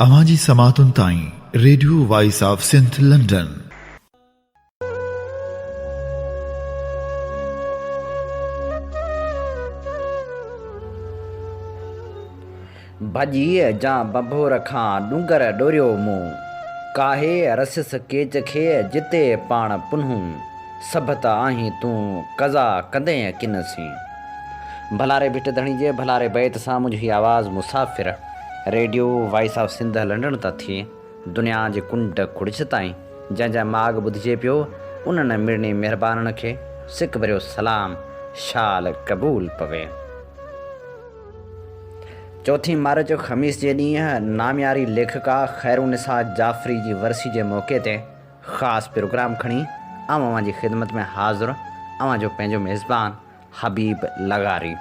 اوهان جي سماعتن تائين radio voice of Sindh London. ڀڄيء جا ڀنڀور کان ڏونگر ڏوريو مون. ڪاهي رسيس ڪيچ کي جتي پاڻ پنهون. سڀ ته آهين تون قضا ڪندين ڪن سين. ڀلاري ڀٽ ڌڻي جي ڀلاري بيت سان منهنجي هي آواز مسافر radio voice of Sindh London تان ٿي دنيا جي ڪنڊ ڪڙڇ تائين جنهن جا ماڳ ٻڌجي پيو انهن مڙني مهربانن کي سڪ ڀريو سلام شال قبول پوي. چوٿين مارچ خميس جي ڏينهن نامياري ليکڪا خيرالنساء جعفري جي ورسي جي موقعي تي خاص پروگرام کڻي آئون اوهان جي خدمت ۾ حاضر اوهان جو پنهنجو ميزبان حبيب لغاري.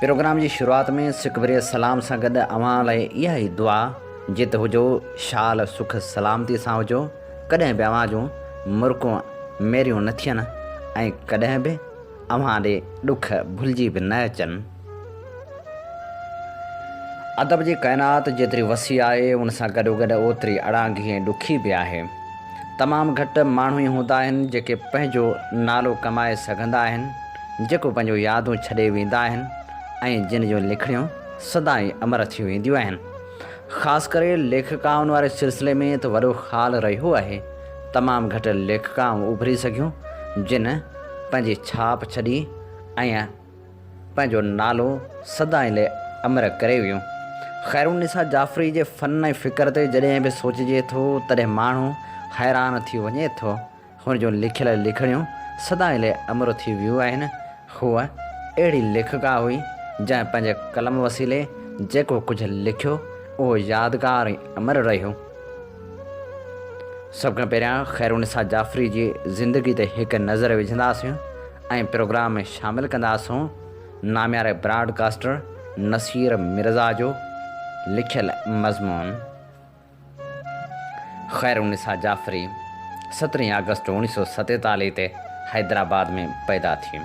پروگرام جي شروعات ۾ سکبري سلام سان گڏ اوهان لاء اها ئي دعا جت هجو شال سک سلامتي سان هجو ڪڏهن به اوهان جون مرڪون ميريون نه ٿين ۽ ڪڏهن به اوهان ڏي ڏک ڀلجي به نه اچن. ادب جي ڪائنات جيتري وسيع آهي، ان سان گڏوگڏ اوتري اڙانگي ۽ ڏکي به آهي. تمام گهٽ ماڻهو ئي هوندا آهن، جيڪي پنهنجو نالو ڪمائي سگهندا آهن، جيڪو پنهنجون يادون ڇڏي ويندا آهن ۽ جن جون لکڻيون سدائين امر ٿي وينديون آهن. خاص ڪري ليکڪائن واري سلسلي ۾ ته وڏو خال رهيو آهي. تمام گهٽ ليکڪائون اڀري سگهيون، جن پنهنجي ڇاپ ڇڏي ۽ پنهنجو نالو سدائين لئه امر ڪري ويو. خيرالنساء جعفري جي فن ۽ فڪر تي جڏهن به سوچجي ٿو تڏهن ماڻهو حيران ٿي وڃي ٿو. هن جون لکيل لکڻيون سدائين لئه امر ٿي ويون آهن. هوء اهڙي ليکڪا هئي جنهن پنهنجي قلم وسيلي جيڪو ڪجهه لکيو اهو يادگار ۽ امر رهيو. سڀ کان پهريان خيرالنساء جعفري جي زندگي تي هڪ نظر وجهنداسين ۽ پروگرام ۾ شامل ڪنداسون نامياري براڊ ڪاسٽر نصير مرزا جو لکيل مضمون خيرالنساء جعفري سترهين آگسٽ اوڻيهه سؤ ستيتاليهه تي حيدرآباد ۾ پيدا ٿي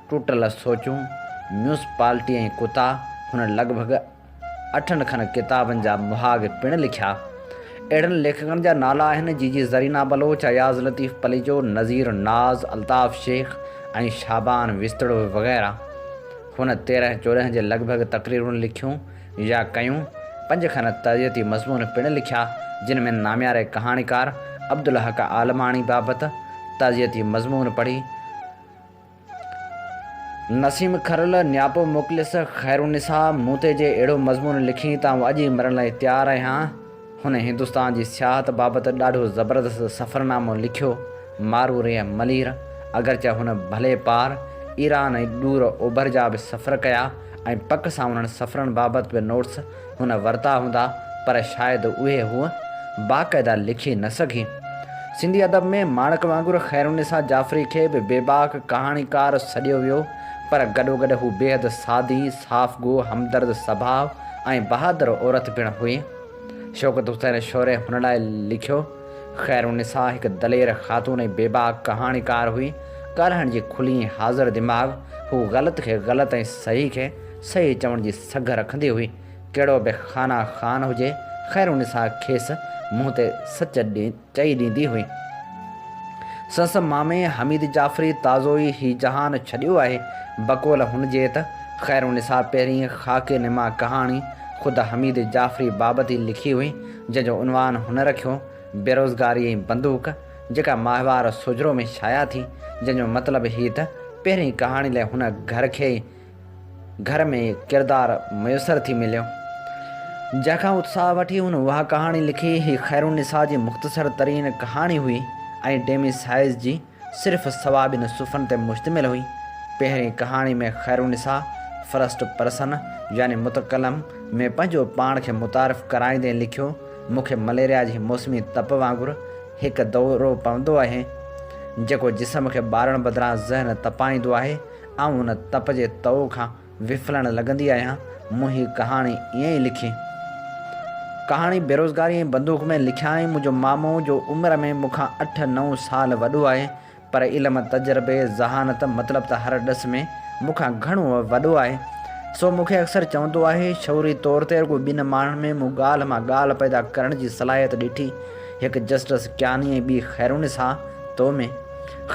ٽوٽل سوچون، ميونسپالٽي ۽ ڪتا، هن لڳ ڀڳ اٺن کن ڪتابن جا مهاڳ پڻ لکيا. اهڙن ليکڪن جا نالا آهن، جي جي زرينه بلوچ، اياز لطيف پليجو، نذير ناز، الطاف شيخ ۽ شعبان وستڙو وغيره. هن تيرهن چوڏهن جي لڳ ڀڳ تقريرون لکيون يا ڪيون. پنج کن تعزيتي مضمون پڻ لکيا، جن ۾ نامياري ڪهاڻيڪار عبدالحق عالماڻي بابت تعزيتي مضمون پڙهي، نسيم کرل، نياپو مخلص، خيرالنساء، مون تي جي اهڙو مضمون لکين ته آئون اڄ ئي مرڻ لاء تيار آهيان. هن هندستان جي سياحت بابت ڏاڍو زبردست سفرنامو لکيو. مارو ريء ملير، اگرچه هن ڀلي پار، ايران ۽ ڏور اوڀر جا به سفر ڪيا ۽ پڪ سان انهن سفرن بابت به نوٽس هن ورتا هوندا پر شايد اهي هوء باقاعده لکي نه سگهي. سنڌي ادب ۾ ماڻڪ وانگر خيرالنساء جعفري کي به بيباڪ ڪهاڻيڪار سڏيو ويو پر گڏوگڏ هو بيحد سادي، صاف گو، همدرد سڀاء ۽ بهادر عورت پڻ هئي. شوڪت حسين شوري هن لاء لکيو، خيرالنساء هڪ دلير خاتون ۽ بيباڪ ڪهاڻيڪار هئي، ڳالهائڻ جي کلي ۽ حاضر دماغ، هو غلط کي غلط ۽ صحيح کي صحيح چوڻ جي سگهه رکندي هئي، ڪهڙو به خانه خان هجي، خيرالنساء کيس منهن تي سچ چئي ڏيندي هئي. سس مامي حميد جعفري تازو ئي هي جهان ڇڏيو آهي، بقول هن جي ته خيرالنساء پهرين خاڪي نما ڪهاڻي خود حميد جعفري بابت ئي لکي هئي، جنهن جو عنوان هن رکيو، بيروزگاري ۽ بندوق، جيڪا ماهوار سوجهرو ۾ شايع ٿي، جنهن جو مطلب هي ته پهرين ڪهاڻي لاء هن گهر کي ئي گهر ۾ ڪردار ميسر ٿي مليو، جنهن کان اتساهه وٺي هن اها ڪهاڻي لکي. هي خيرالنساء جي مختصر ترين ڪهاڻي هئي ۽ ڊيمي سائيز جي صرف سوا ٻن صفحن تي مشتمل هئي. پهرين ڪهاڻي ۾ خيرالنساء فرسٽ پرسن يعني متڪلم ۾ پنهنجو پاڻ کي متعارف ڪرائيندي لکيو، مون کي مليريا جي موسمي تپ وانگر هڪ دورو پوندو اهي، جيڪو جسم کي ٻارڻ بدران ذهن تپائيندو آهي آئون هن تپ جي تئو کان وڦلڻ لڳندي آهيان. مون هي ڪهاڻي ائين ئي لکي. ڪهاڻي بيروزگاري ۽ بندوق ۾ لکيائين. منهنجو مامو، جو عمر ۾ مون کان اٺ نو سال وڏو آهي، پر علم، تجربي، ذهانت، مطلب ته هر ڏس ۾ مون کان گهڻو وڏو آهي، سو مون کي اڪثر چوندو آهي، شعوري طور تي رڳو ٻن ماڻهن ۾ مون ڳالهه مان ڳالهه پيدا ڪرڻ جي صلاحيت ڏٺي، هڪ جسٽس ڪياني ۽ ٻي خيرالنساء تو ۾.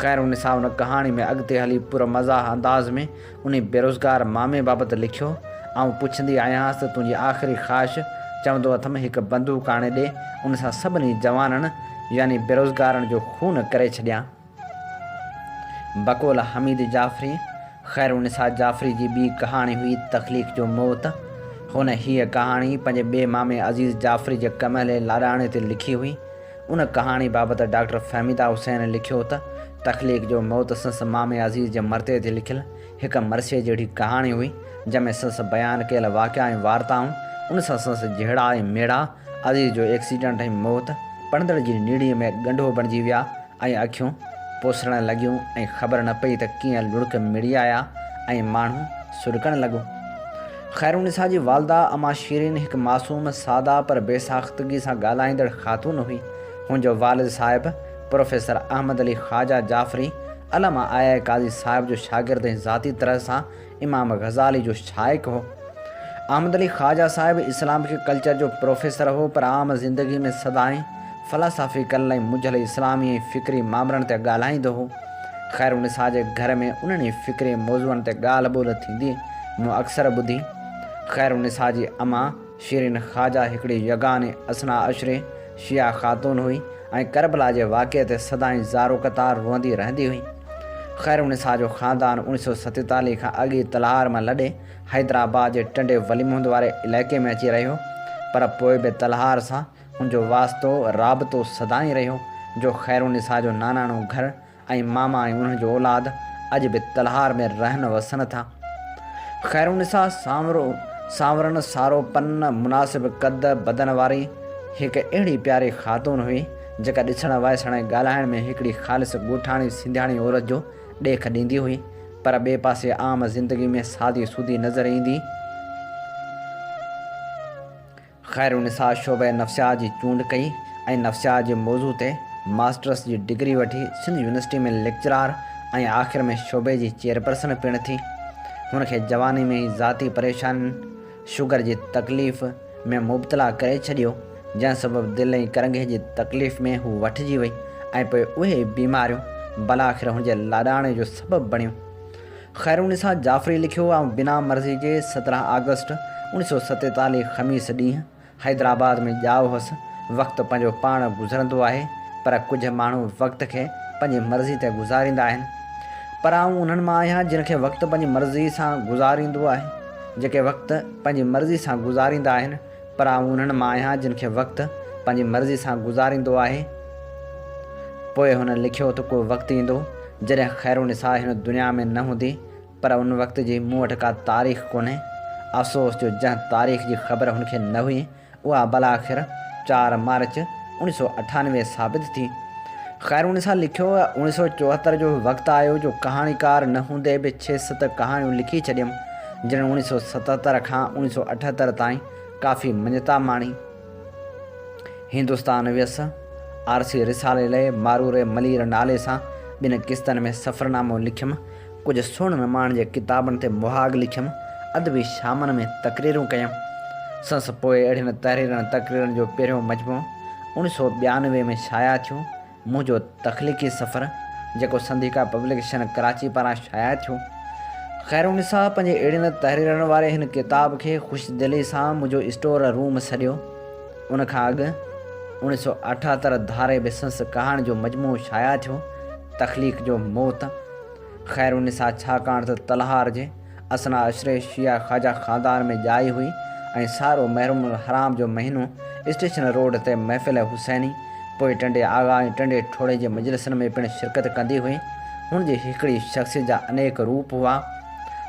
خيرالنساء ان ڪهاڻي ۾ اڳتي هلي پر مزاح انداز ۾ انهي بيروزگار مامي بابت لکيو، آئون پڇندي آهيانس ته تنهنجي آخري خواهش؟ چوندو اٿم هڪ بندوق آڻي ڏي، ان سان سڀني جوانن يعني بيروزگارن جو خون ڪري ڇڏيان. بقول حميد جعفري، خيرالنساء جعفري جي ٻي ڪهاڻي هئي تخليق جو موت. هن هيء ڪهاڻي پنهنجي ٻئي مامي عزيز جعفري جي ڪمهلي لاڏاڻي تي لکي هئي. ان ڪهاڻي بابت ڊاڪٽر فهميده حسين لکيو ته، تخليق جو موت سنس مامي عزيز جي مرتي تي لکيل هڪ مرثيي جهڙي ڪهاڻي هئي، جنهن ۾ سنس بيان ڪيل واقعا ۽ وارتائون، ان سان سنس جهيڙا ۽ ميڙا، عزيز جو ايڪسيڊنٽ ۽ موت، پڙهندڙ جي نيڙي ۾ ڳنڍو بڻجي ويا ۽ اکيون پوسرڻ لڳيون ۽ خبر نه پئي ته ڪيئن لڙڪ مڙي آيا ۽ ماڻهو سڏڪڻ لڳو. خيرالنساء جي والده اما شيرين هڪ معصوم، ساده پر بي ساختگي سان ڳالهائيندڙ خاتون هئي. هن جو والد صاحب پروفيسر احمد علي خواجه جعفري، علامه آء آء قاضي صاحب جو شاگرد ۽ ذاتي طرح سان امام غزالي جو شائق هو. احمد علي خواجه صاحب اسلامڪ ڪلچر جو پروفيسر هو پر عام زندگي ۾ سدائين فلاسافيڪل ۽ منجهيل اسلامي ۽ فڪري مامرن تي ڳالهائيندو هو. خير النساء جي گهر ۾ انهن ئي فڪري موضوعن تي ڳالهه ٻولهه ٿيندي مون اڪثر ٻڌي. خير النساء جي امان شيرين خواجه هڪڙي يگاني اثنا عشري شيعه خاتون هئي ۽ ڪربلا جي واقعي تي سدائين زارو قطار روئندي رهندي هئي. خير النساء جو خاندان اوڻي سؤ ستيتاليهه کان اڳ ئي تلهار مان لڏي حيدرآباد جي ٽنڊي وليمحمد واري علائقي ۾ اچي رهيو پر پوء به تلهار سان ان جو واسطو رابطو سدائين رهيو جو خيرالنساء جو ناناڻو گهر ۽ ماما ۽ انهن جو اولاد اڄ به تلهار ۾ رهن وسن ٿا. خيرالنساء سانورو، سانورن سارو پن، مناسب قد بدن واري هڪ اهڙي پياري خاتون هئي، جيڪا ڏسڻ، وائسڻ ۽ ڳالهائڻ ۾ هڪڙي خالص ڳوٺاڻي سنڌياڻي عورت جو ڏيک ڏيندي هئي، پر ٻئي پاسي عام زندگي ۾ سادي سودي نظر ايندي. خيرالنساء شعبه نفسيات جي چونڊ ڪئي ۽ نفسيات جي موضوع تي ماسٽرس جي ڊگري وٺي سنڌ يونيورسٽي ۾ ليڪچرار ۽ آخر ۾ شعبي جي چيئرپرسن پڻ ٿي. هن کي جواني ۾ ئي ذاتي پريشانين، شگر جي تڪليف، ۾ مبتلا ڪري ڇڏيو، جنهن سبب دل ۽ ڪرنگهي جي تڪليف ۾ هو وٺجي وئي ۽ پوء اهي ئي بيماريون بلاخر هن جي لاڏاڻي جو سبب بڻيون. خيرالنساء جعفري لکيو آئون بنا مرضي جي سترهن آگسٽ اوڻيهه سؤ ستيتاليهه خميس ڏينهن حيدرآباد ۾ ڄائو هوس. وقت پنهنجو پاڻ گذرندو آهي پر ڪجهه ماڻهو وقت کي پنهنجي مرضي تي گذاريندا آهن پر آئون انهن مان آهيان جن کي وقت پنهنجي مرضي سان گذاريندو آهي جيڪي وقت پنهنجي مرضي سان گذاريندا آهن پر آئون انهن مان آهيان جن کي وقت پنهنجي مرضي سان گذاريندو آهي. پوء هن لکيو ته ڪو وقت ايندو جڏهن خيرالنساء هن دنيا ۾ نه هوندي پر ان وقت جي مون وٽ ڪا تاريخ ڪونهي. افسوس جو جنهن تاريخ جي خبر هن کي نه هئي اها بالاخر چار مارچ اوڻي سؤ اٺانوي ثابت ٿي. خيرالنساء لکيو اوڻي سؤ چوهتر جو وقت آيو جو ڪهاڻيڪار نه هوندي به ڇهه ست ڪهاڻيون لکي ڇڏيم. جنھن اوڻيھ سؤ ستهتر کان اوڻيھ سؤ اٺهتر تائين ڪافي مڃتا ماڻي. هندستان ويس، آرسي رسالي لئه ماروري ملير نالي سان ٻن قسطن ۾ سفرنامو لکيم، ڪجهه سھڻ نماڻ جي ڪتابن تي مهاڳ لکيم، ادبي شامن ۾ تقريرون ڪيم. سنس پوء اهڙين تحريرن تقريرن جو پهريون مجموعو اوڻيھ سؤ ٻيانوي ۾ شايع ٿيو، منهنجو تخليقي سفر جيڪو سنڌيڪا پبلڪيشن ڪراچي پاران شايع ٿيو. خيرالنساء پنهنجي اهڙين تحريرن واري هن ڪتاب کي خوش دلي سان منهنجو اسٽور روم سڏيو. ان کان اڳ اوڻيهه سؤ اٺهتر ڌاري به سنس ڪهاڻين جو مجموعو شايع ٿيو تخليق جو موت خيرالنساء ڇاڪاڻ ته تلهار جي اثنا عشري شيعا خواجه خاندان ۾ ڄائي هئي ۽ سارو محرم الحرام جو مهينو اسٽيشن روڊ تي محفل حسيني، پوء ٽنڊي آغا ۽ ٽنڊي ٺوڙهي جي مجلسن ۾ پڻ شرڪت ڪندي هئي. هن جي هڪڙي شخصيت جا انيڪ روپ هئا.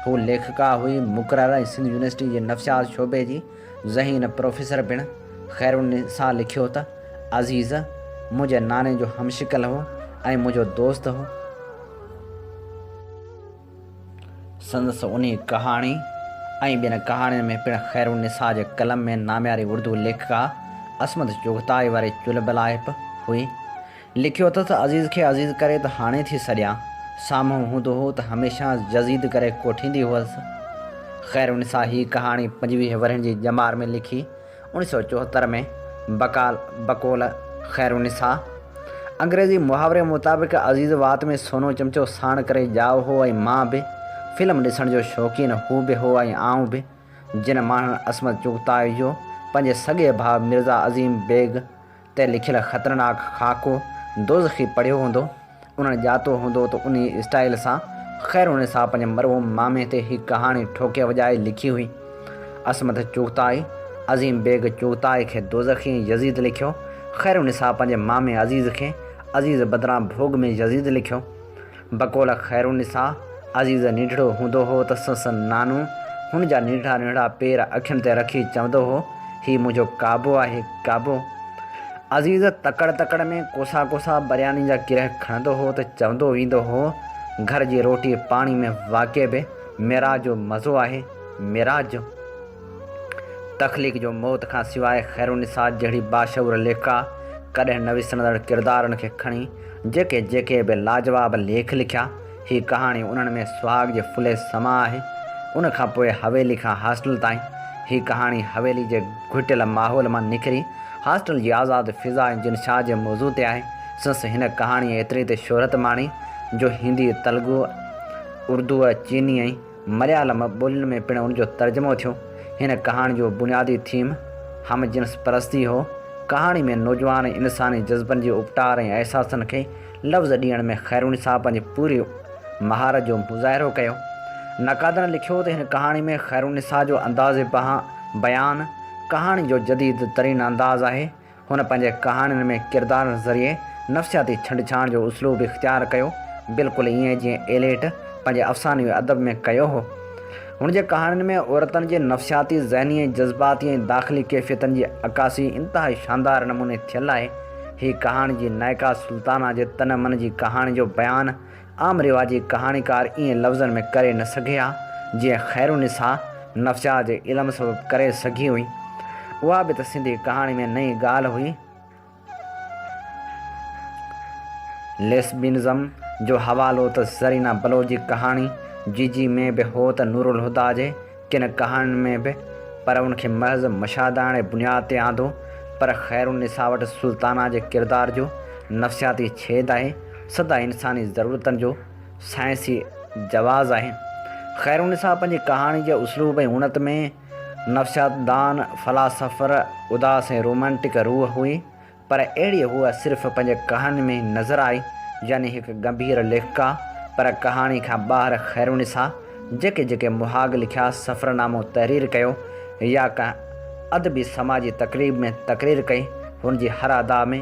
هوء ليکڪا هئي، مقرر ۽ سنڌ يونيورسٽي جي نفسيات شعبي جي ذهين پروفيسر پڻ. خيرالنساء لکيو ته، عزيز، منهنجي ناني جو همشڪل هو ۽ منهنجو دوست هو. سندس انهي ڪهاڻي ۽ ٻين ڪهاڻين ۾ پڻ خيرالنساء جي قلم ۾ نامياري اردو ليکڪا عصمت چغتائي واري چلبلاهپ هئي. لکيو اٿس ته عزيز کي عزيز ڪري ته هاڻي ٿي سڏيان، سامهون هوندو هو ته هميشه جزيد ڪري ڪوٺيندي هئس. خيرالنساء هيء ڪهاڻي پنجويهه ورهين جي ڄمار ۾ لکي. اوڻيھ سؤ چوهتر ۾ بقال، بقول، خير النساء، انگريزي محاوري مطابق عزيز وات ۾ سونو چمچو ساڻ ڪري ڄاء هو ۽ مان به فلم ڏسڻ جو شوقين هو به هو ۽ آئون به، جن ماڻهن عصمت چغتائي جو پنهنجي سڳي ڀاء مرزا عظيم بيگ، تي لکيل خطرناڪ خاڪو دوزخي پڙهيو هوندو، انهن ڄاتو هوندو ته انهيء اسٽائيل سان خيرالنساء پنهنجي مرحوم مامي تي هي ڪهاڻي ٺوڪي وڄائي لکي هئي. عصمت چغتائي، عظيم بيگ چغتائي کي دوزخي ۽ يزيد لکيو، خيرالنساء پنهنجي مامي عزيز کي عزيز بدران ڀوڳ ۾ يزيد لکيو. بقول خيرالنساء، عزيز نينڍڙو هوندو هو ته سنس نانو هن جا نينڍڙا نينڍڙا پير اکين تي رکي چوندو هو، هي منهنجو ڪابو آهي، ڪابو! عزيز تڪڙ تڪڙ ۾ ڪوسا ڪوسا برياني جا گرهه کڻندو هو ته چوندو ويندو هو، گهر جي روٽي پاڻي ۾ واقعي به معراج جو مزو آهي، معراج جو! تخليق جو موت کان سواء خيرالنساء جهڙي باشعور ليکڪا ڪڏهن نه وسرندڙ ڪردارن کي کڻي جيڪي جيڪي به لاجواب ليک لکيا. هي ڪهاڻي انهن ۾ سهاڳ جي ڦلي سما آهي. ان کان پوء حويلي کان هاسٽل تائين. هي ڪهاڻي حويلي جي گهٽيل ماحول مان نڪري هاسٽل جي آزاد فضا ۽ جن شاهه جي موضوع تي آهي. سنس هن ڪهاڻيء ايتري ته شهرت ماڻي جو هندي، تلگو، اردوء، چيني ۽. مليالم ٻولين ۾ پڻ ان جو ترجمو ٿيو. هن ڪهاڻي جو بنيادي ٿيم هم جنس پرستي هو. ڪهاڻي ۾ نوجوان ۽ انساني جذبن جي اپٽار ۽ احساسن کي لفظ ڏيڻ ۾ خيروني صاحب پنهنجي پوري مهارت جو مظاهرو ڪيو. نقادن لکيو ته هن ڪهاڻي ۾ خيرونيسا جو انداز بيان ڪهاڻي جو جديد ترين انداز آهي. هن پنهنجي ڪهاڻين ۾ ڪردارن ذريعي نفسياتي ڇنڊڇاڻ جو اسلوب اختيار ڪيو، بلڪل ائين جيئن ايليٽ پنهنجي افسانوي ادب ۾ ڪيو هو. هن جي ڪهاڻين ۾ عورتن جي نفسياتي، ذهني ۽ جذباتي ۽ داخلي ڪيفيتن جي عڪاسي انتهائي شاندار نموني ٿيل آهي. هي ڪهاڻي جي نائڪا سلطانه جي تن من جي ڪهاڻي جو بيان عام رواجي ڪهاڻيڪار ائين لفظن ۾ ڪري نه سگهي ها، جيئن خيرالنساء نفسيات جي علم سبب ڪري سگهي هئي. اها به ته سنڌي ڪهاڻي ۾ نئين ڳالهه هئي. ليسبينزم جو حوالو ته زرينه بلوچ جي ڪهاڻي جيجي ۾ به هو ته نورالهديٰ جي ڪن ڪهاڻين ۾ به پر ان کي محض مشاهداڻي بنياد تي آندو، پر خير النساء وٽ سلطانه جي ڪردار جو نفسياتي ڇيد آهي، سدا انساني ضرورتن جو سائنسي جواز آهي. خير النساء پنهنجي ڪهاڻي جي اسلوب ۽ اڻت ۾ نفسياتدان، فلاسافر، اداس ۽ رومانٽڪ روح هئي، پر اهڙي هوء صرف پنهنجي ڪهاڻين ۾ ئي نظر آئي، يعني هڪ ڳنڀير ليکڪا، پر ڪهاڻي کان ٻاهر خيرونسا جيڪي جيڪي مهاڳ لکيا، سفرنامو تحرير ڪيو يا ڪنهن ادبي سماجي تقريب ۾ تقرير ڪئي، هن جي هر ادا ۾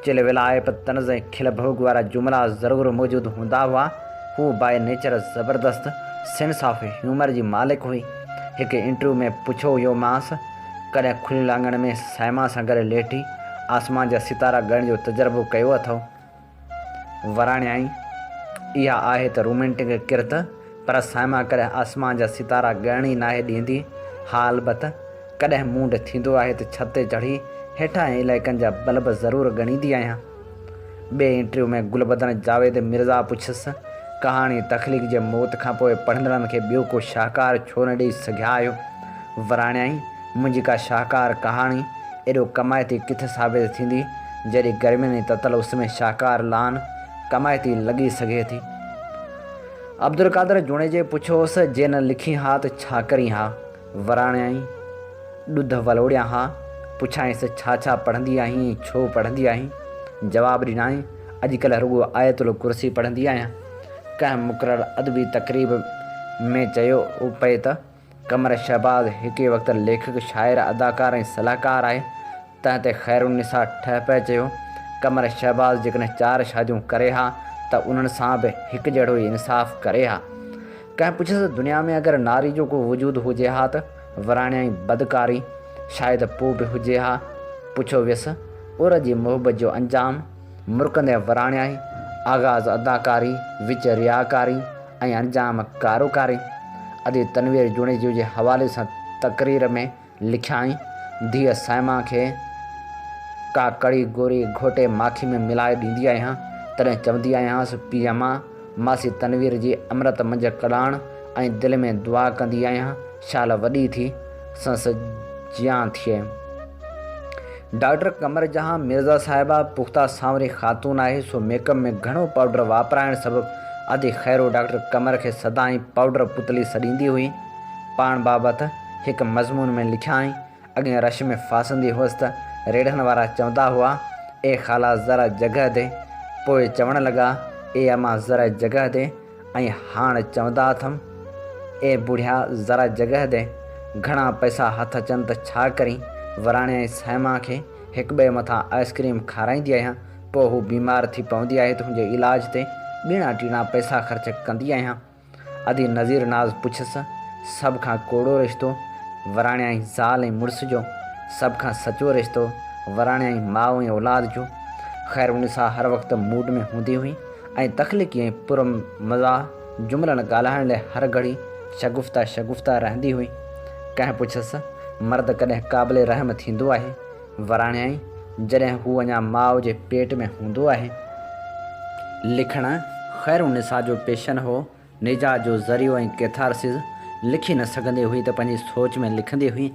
چل ويلائپ، طنز ۽ کل ڀوڳ وارا جملا ضرور موجود هوندا هئا. هوء بائي نيچر زبردست سينس آف هيومر جي مالڪ هئي. هڪ انٽرويو ۾ پڇيو ويومانس. ڪڏهن کليل اڱڻ ۾ صائمه سان گڏ ليٽي آسمان جا ستارا ڳڻڻ جو تجربو ڪيو اٿئو؟ وراڻيائين، اها آهي ته رومينٽڪ ڪرت، پر صائمه ڪڏهن آسمان جا ستارا ڳڻڻ ئي ناهي ڏيندي. ها البت، ڪڏهن موڊ ٿيندو آهي ته ڇت تي چڙهي هيٺاهين علائقن جا بلب ضرور ڳڻيندي آهيان. ٻئي انٽرويو ۾ گلبدن جاويد مرزا پڇيس، ڪهاڻي تخليق جي موت کانپوء پڙهندڙن کي ٻيو ڪو شاهڪار ڇو نه ڏيئي سگهيا آهيو؟ وراڻيائين، منهنجي ڪا شاهڪار ڪهاڻي ايڏو ڪمائتي ڪٿي ثابت ٿيندي، جيڏي گرمين جي تتل اس ۾ شاهڪار لان ڪمائتي لڳي سگهي ٿي. عبدالقادر جوڻيجي پڇيوس، جي نه لکين ها ته ڇا ڪرين ها؟ وراڻيائين، ڏڌ ولوڙيان ها، پڇيائينس ڇا ڇا پڙهندي آهين ۽ ڇو پڙهندي آهين؟ جواب ڏنائين، اڄڪلهه رڳو آيت الڪرسي پڙهندي آهيان. ڪنهن مقرر ادبي تقريب ۾ چيو پئي ته، قمر شهباز هڪي وقت ليکڪ، شاعر، اداڪار ۽ صلاحڪار آهي. تنهن تي خيرالنساء ٺهه پئي چيو، قمر شهباز جيڪڏهن چار شاديون ڪري ها ته انهن سان به هڪجهڙو ئي انصاف ڪري ها. ڪنهن پڇيس ته دنيا ۾ اگر ناري جو ڪو وجود هجي ها ته وراڻيائين بدڪاري، شايد پوء به هجي ها. پڇيو ويس، عور جي محبت جو انجام؟ مرڪندي وراڻيائين، آغاز اداڪاري، وچ رياڪاري ۽ انجام ڪاروڪاري. ادي تنوير جوڻيجو جي حوالي سان تقرير ۾. لکيائين، ڌيء صائمه کي ڪا ڪڙي گوري گهوٽي ماکي ۾ ملائي ڏيندي آهيان، تڏهن چوندي آهيانس، پيء مان ماسي تنوير جي امرت منجهه ڪڙاڻ ۽ دل ۾ دعا ڪندي آهيان، شال وڏي ٿي، سنس جيان ٿئي. ڊاڪٽر قمر جهان مرزا صاحبه پخته سانوري خاتون آهي، سو ميڪ اپ ۾ گهڻو پائوڊر واپرائڻ سبب ادي خيرو ڊاڪٽر قمر کي سدائين پائوڊر پتلي سڏيندي هئي. پاڻ بابت هڪ مضمون ۾ لکيائين، اڳين رش ۾ ڦاسندي هئس ته ريڙهڻ وارا چوندا هئا، اي خالا ذرا جڳهه ڏي، پوء چوڻ لڳا، اي اما ذرا جڳهه ڏي ۽ هاڻ چوندا اٿم، اي بوڙهيا ذرا جڳهه ڏي، گهڻا پئسا هٿ اچن ته ڇا ڪرين، وراڻي ۽ صائمه کي هڪٻئي مٿان آئس ڪريم کارائيندي آهيان، پوء هو بيمار ٿي پوندي آهي ته هن جي علاج تي ٻيڻا ٽيڻا پئسا خرچ ڪندي آهيان. ادي نذير ناز پڇس، سڀ کان ڪوڙو رشتو وراڻيائين زال ۽ مڙس جو، سڀ کان سچو رشتو وراڻيائين ماء ۽ اولاد جو. خير النساء هر وقت موڊ ۾ هوندي هئي ۽ تخليقي ۽ پر مزاح جملن ڳالهائڻ لئه هر گهڙي شگفته شگفته رهندي هئي. ڪنهن پڇس، مرد ڪڏهن قابل رحم ٿيندو آهي؟ وراڻيائين جڏهن هو اڃا ماء جي پيٽ ۾ هوندو آهي. لکڻ خيرالنساء جو پيشن هو، نجات جو ذريعو ۽ ڪيٿارسز، لکي نه سگهندي هئي ته پنهنجي سوچ ۾ لکندي هئي.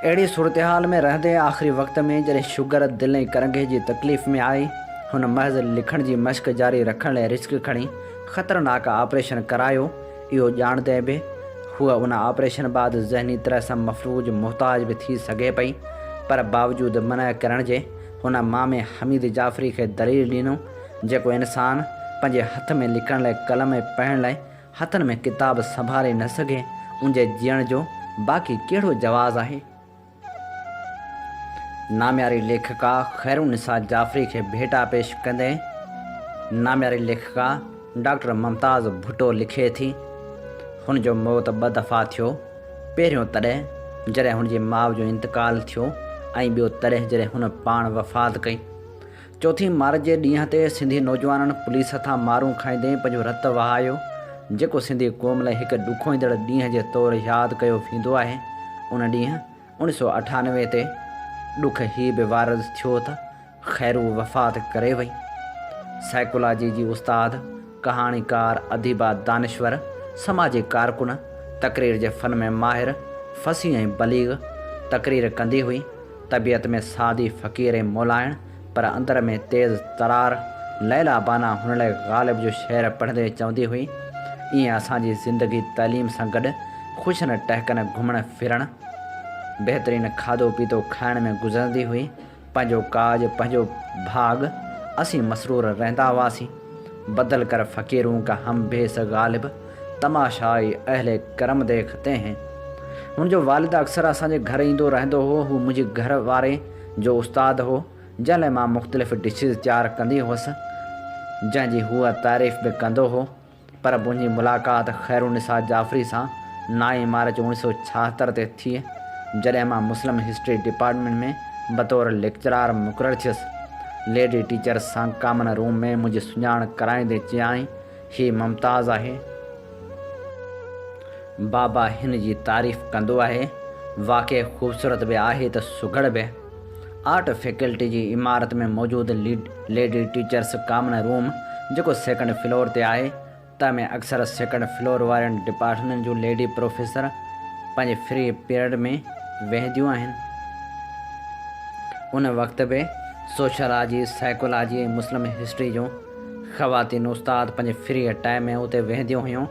اهڙي صورتحال ۾ رهندي آخري وقت ۾ جڏهن شگر، دل ۽ ڪرنگهي جي تڪليف ۾ آئي، هن محض لکڻ جي مشق جاري رکڻ لاء رسڪ کڻي خطرناڪ آپريشن ڪرايو، اهو ڄاڻندي به هوء ان آپريشن بعد ذهني طرح سان مفلوج محتاج به ٿي سگهي پئي پر باوجود منع ڪرڻ جي هن مامي حميد جعفري کي دليل ڏنو جيڪو انسان پنهنجي هٿ ۾ لکڻ لاء قلم ۽ پڙهڻ لاء هٿن ۾ ڪتاب سنڀالي نه سگهي انجي جيئڻ جو باقي ڪهڙو جواز آهي. نامياري ليکڪا خيرالنساء جعفري کي ڀيٽا پيش ڪندي نامياري ليکڪا ڊاڪٽر ممتاز ڀٽو لکي ٿي، هن جو موت ٻه دفعا ٿيو، پهريون تڏهن جڏهن هن جي ماء جو انتقال ٿيو ۽ ٻيو تڏهن جڏهن هن پاڻ وفات ڪئي. چوٿين مارچ جي ڏينهن تي سنڌي نوجوانن پوليس هٿان مارون کائيندي پنهنجو رت وهايو، جيڪو سنڌي قوم لاء هڪ ڏکوئيندڙ ڏينهن جي طور ياد ڪيو ويندو آهي. ان ڏينهن اوڻي سؤ اٺانوي تي ڏک هي به وارد ٿيو ته خيرو وفات ڪري وئي. سائيڪولاجي جي استاد، ڪهاڻيڪار، اديبه، دانشور، سماجي ڪارڪن، تقرير جي فن ۾ ماهر، فصيح ۽ بليغ تقرير ڪندي هئي. طبيعت ۾ سادي فقير ۽ مولائڻ پر اندر ۾ تيز ترار ليلا بانان هن لاء غالب جو شعر پڙهندي چوندي هئي، ائين اسان جي زندگي تعليم سان گڏ خوشين ٽهڪن گهمڻ ڦرڻ، بهترين کاڌو پيتو کائڻ ۾ گذرندي هئي، پنهنجو ڪاڄ، پنهنجو ڀاڳ، اسين مسرور رهندا هئاسين. بدل کر فقيرون ڪا هم بيس غالب، تماشائي اهل ڪرم ديکتي هين. هن جو والد اڪثر اسان جي گهر ايندو رهندو هو. هو منهنجي گهر واري جو استاد هو، جنهن لاء مان مختلف ڊشز تيار ڪندي هئس، جنهن جي هو تعريف به ڪندو هو. پر منهنجي ملاقات خيرالنساء جعفري سان نائين مارچ اوڻيھ سؤ ڇاهتر تي ٿي، جڏهن مان مسلم هسٽري ڊپارٽمينٽ ۾ بطور ليڪچرار مقرر ٿيس. ليڊي ٽيچرس سان ڪامن روم ۾ منهنجي سڃاڻ ڪرائيندي چيائين، هي ممتاز آهي. بابا هن جي تعريف ڪندو آهي. واقعي خوبصورت به آهي ته سگهڙ به. آرٽ فيڪلٽي جي عمارت ۾ موجود ليڊي ٽيچرس ڪامن روم جيڪو سيڪنڊ فلور تي آهي تنهن ۾ اڪثر سيڪنڊ فلور وارين ڊپارٽمينٽن جون ليڊي پروفيسر پنهنجي فري پيرڊ ۾ ويهنديون آهن. ان وقت به سوشلاجي، سائيڪولاجي ۽ مسلم هسٽري جون خواتين استاد پنهنجي فري ٽائيم ۾ اتي ويهنديون هيون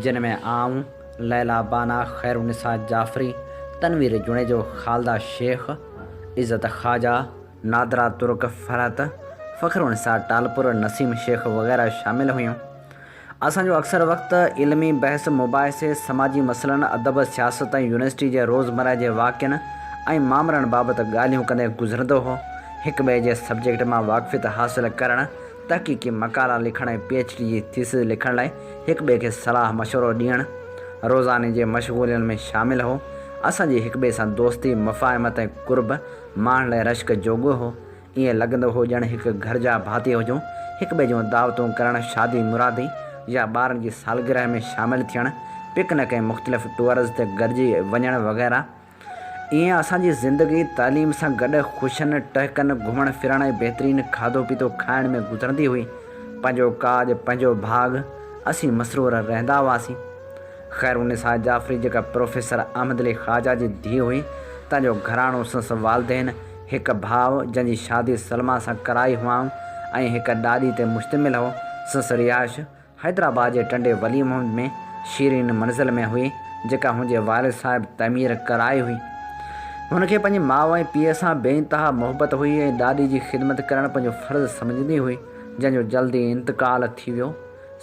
جن ۾ آئون، ليليٰ باناء، خيرالنساء جعفري، تنوير جوڻيجو، خالده شيخ، عزت خواجه، نادرا ترڪ، فرحت، فخرالنساء ٽالپر، نسيم شيخ وغيره شامل هيون. اسان جو اڪثر وقت علمي بحث، مباحثي، سماجي مسئلن، ادب، سياست ۽ يونيورسٽي جي روزمره جي واقعن ۽ مامرن بابت ڳالهيون ڪندي گذرندو هو. هڪٻئي جي سبجيڪٽ مان واقفيت حاصل ڪرڻ تحقيقي مقالا لکڻ ۽ پي ايڇ ڊي جي ٿيسز لکڻ لاء هڪ ٻئي کي صلاح مشورو ڏيڻ روزاني جي مشغولين ۾ شامل هو. اسان جي هڪ ٻئي سان دوستي، مفاهمت ۽ قرب ماڻڻ لاء رشڪ جوڳو هو. ائين لڳندو هو ڄڻ هڪ گهر جا ڀاتي هجون. هڪ ٻئي جون دعوتون ڪرڻ، شادي مرادي يا ٻارن جي سالگرهه ۾ شامل ٿيڻ، پڪنڪ ۽ مختلف ٽوئرز تي گڏجي وڃڻ وغيره. ائين اسان جي زندگي تعليم سان گڏ خوشين ٽهڪن، گهمڻ ڦرڻ ۽ بهترين کاڌو پيتو کائڻ ۾ گذرندي هئي. پنهنجو ڪاڄ، پنهنجو ڀاڳ، اسين مسرور رهندا هئاسين. خيرالنساء جعفري جيڪا پروفيسر احمد علي خواجه جي ڌيء هئي، تنهن جو گهراڻو سندس والدين، هڪ ڀاء جنهن جي شادي سلميٰ سان ڪرائي هئائون ۽ هڪ ڏاڏي تي مشتمل هو، سندس رهائش حيدرآباد جي ٽنڊي ولي محمد ۾ شيرين منزل ۾ هئي، جيڪا هن جي والد صاحب تعمير ڪرائي هئي. هن کي پنهنجي ماء ۽ پيء سان بي انتها محبت هئي ۽ ڏاڏي جي خدمت ڪرڻ پنهنجو فرض سمجهندي هئي، جنهن جو جلدي انتقال ٿي ويو.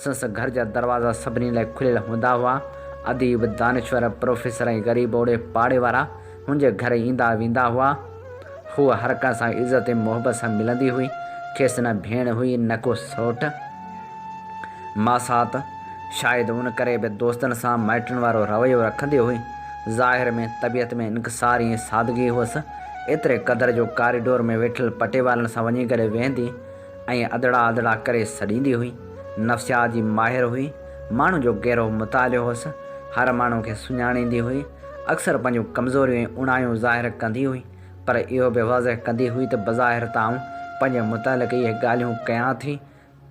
سندس گهر جا دروازا سڀني لاء کليل هوندا هئا. اديب، دانشور، پروفيسر ۽ غريب اوڙي پاڙي وارا، منهنجي گهر ايندا ويندا هئا. هوء هر ڪنهن سان عزت ۽ محبت سان ملندي هئي. کيس نه ڀيڻ هئي نه ڪو سئوٽ، ماسات. شايد ان ڪري به دوستن سان مائٽن وارو رويو رکندي هئي. ظاهر ۾ طبيعت ۾ انڪساري ۽ سادگي هئس. ايتري قدر جو ڪاريڊور ۾ ويٺل پٽيوالن سان وڃي گڏ ويهندي. ائين ادڙا ادڙا ڪري سڏيندي هئي. نفسيات جي ماهر هئي. ماڻهن جو گهرو مطالعو هوس. هر ماڻهو کي سڃاڻيندي هئي. اڪثر پنهنجون ڪمزوريون ۽ اوڻايون ظاهر ڪندي هئي. پر اهو به واضح ڪندي هئي ته بظاهر ته آئون پنهنجي متعلق اهي ڳالهيون ڪيان ٿي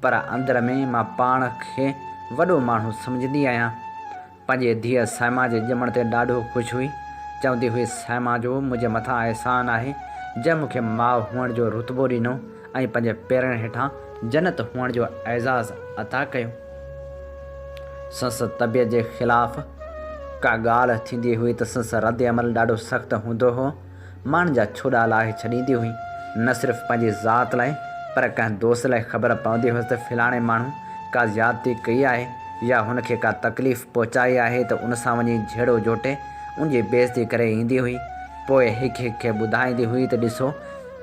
پر اندر ۾ مان پاڻ کي وڏو ماڻهو سمجهندي آهيان. پنهنجي ڌيء سائما جي ڄمڻ تي ڏاڍو خوش هئي. چوندي هئي سائما جو منهنجي مٿان احسان آهي جنهن مون کي ماء هئڻ جو رتبو ڏنو ۽ پنهنجي پيرن هيٺان جنت هئڻ جو اعزاز عطا ڪيو. سنس طبيعت جي خلاف ڪا ڳالهه ٿيندي هئي ته سنس رد عمل ڏاڍو سخت هوندو هو. ماڻهن جا ڇوڏا لاهي ڇڏيندي هئي. نه صرف پنهنجي ذات لاء پر ڪنهن دوست لاء خبر پوندي هيس ته فلاڻي ماڻهو ڪا زيادتي ڪئي آهي يا هن کي ڪا تڪليف پهچائي آهي ته ان سان وڃي جهيڙو جهوٽي ان جي بيعزتي ڪري ايندي هئي. پوء هڪ هڪ کي ٻڌائيندي هئي ته ڏسو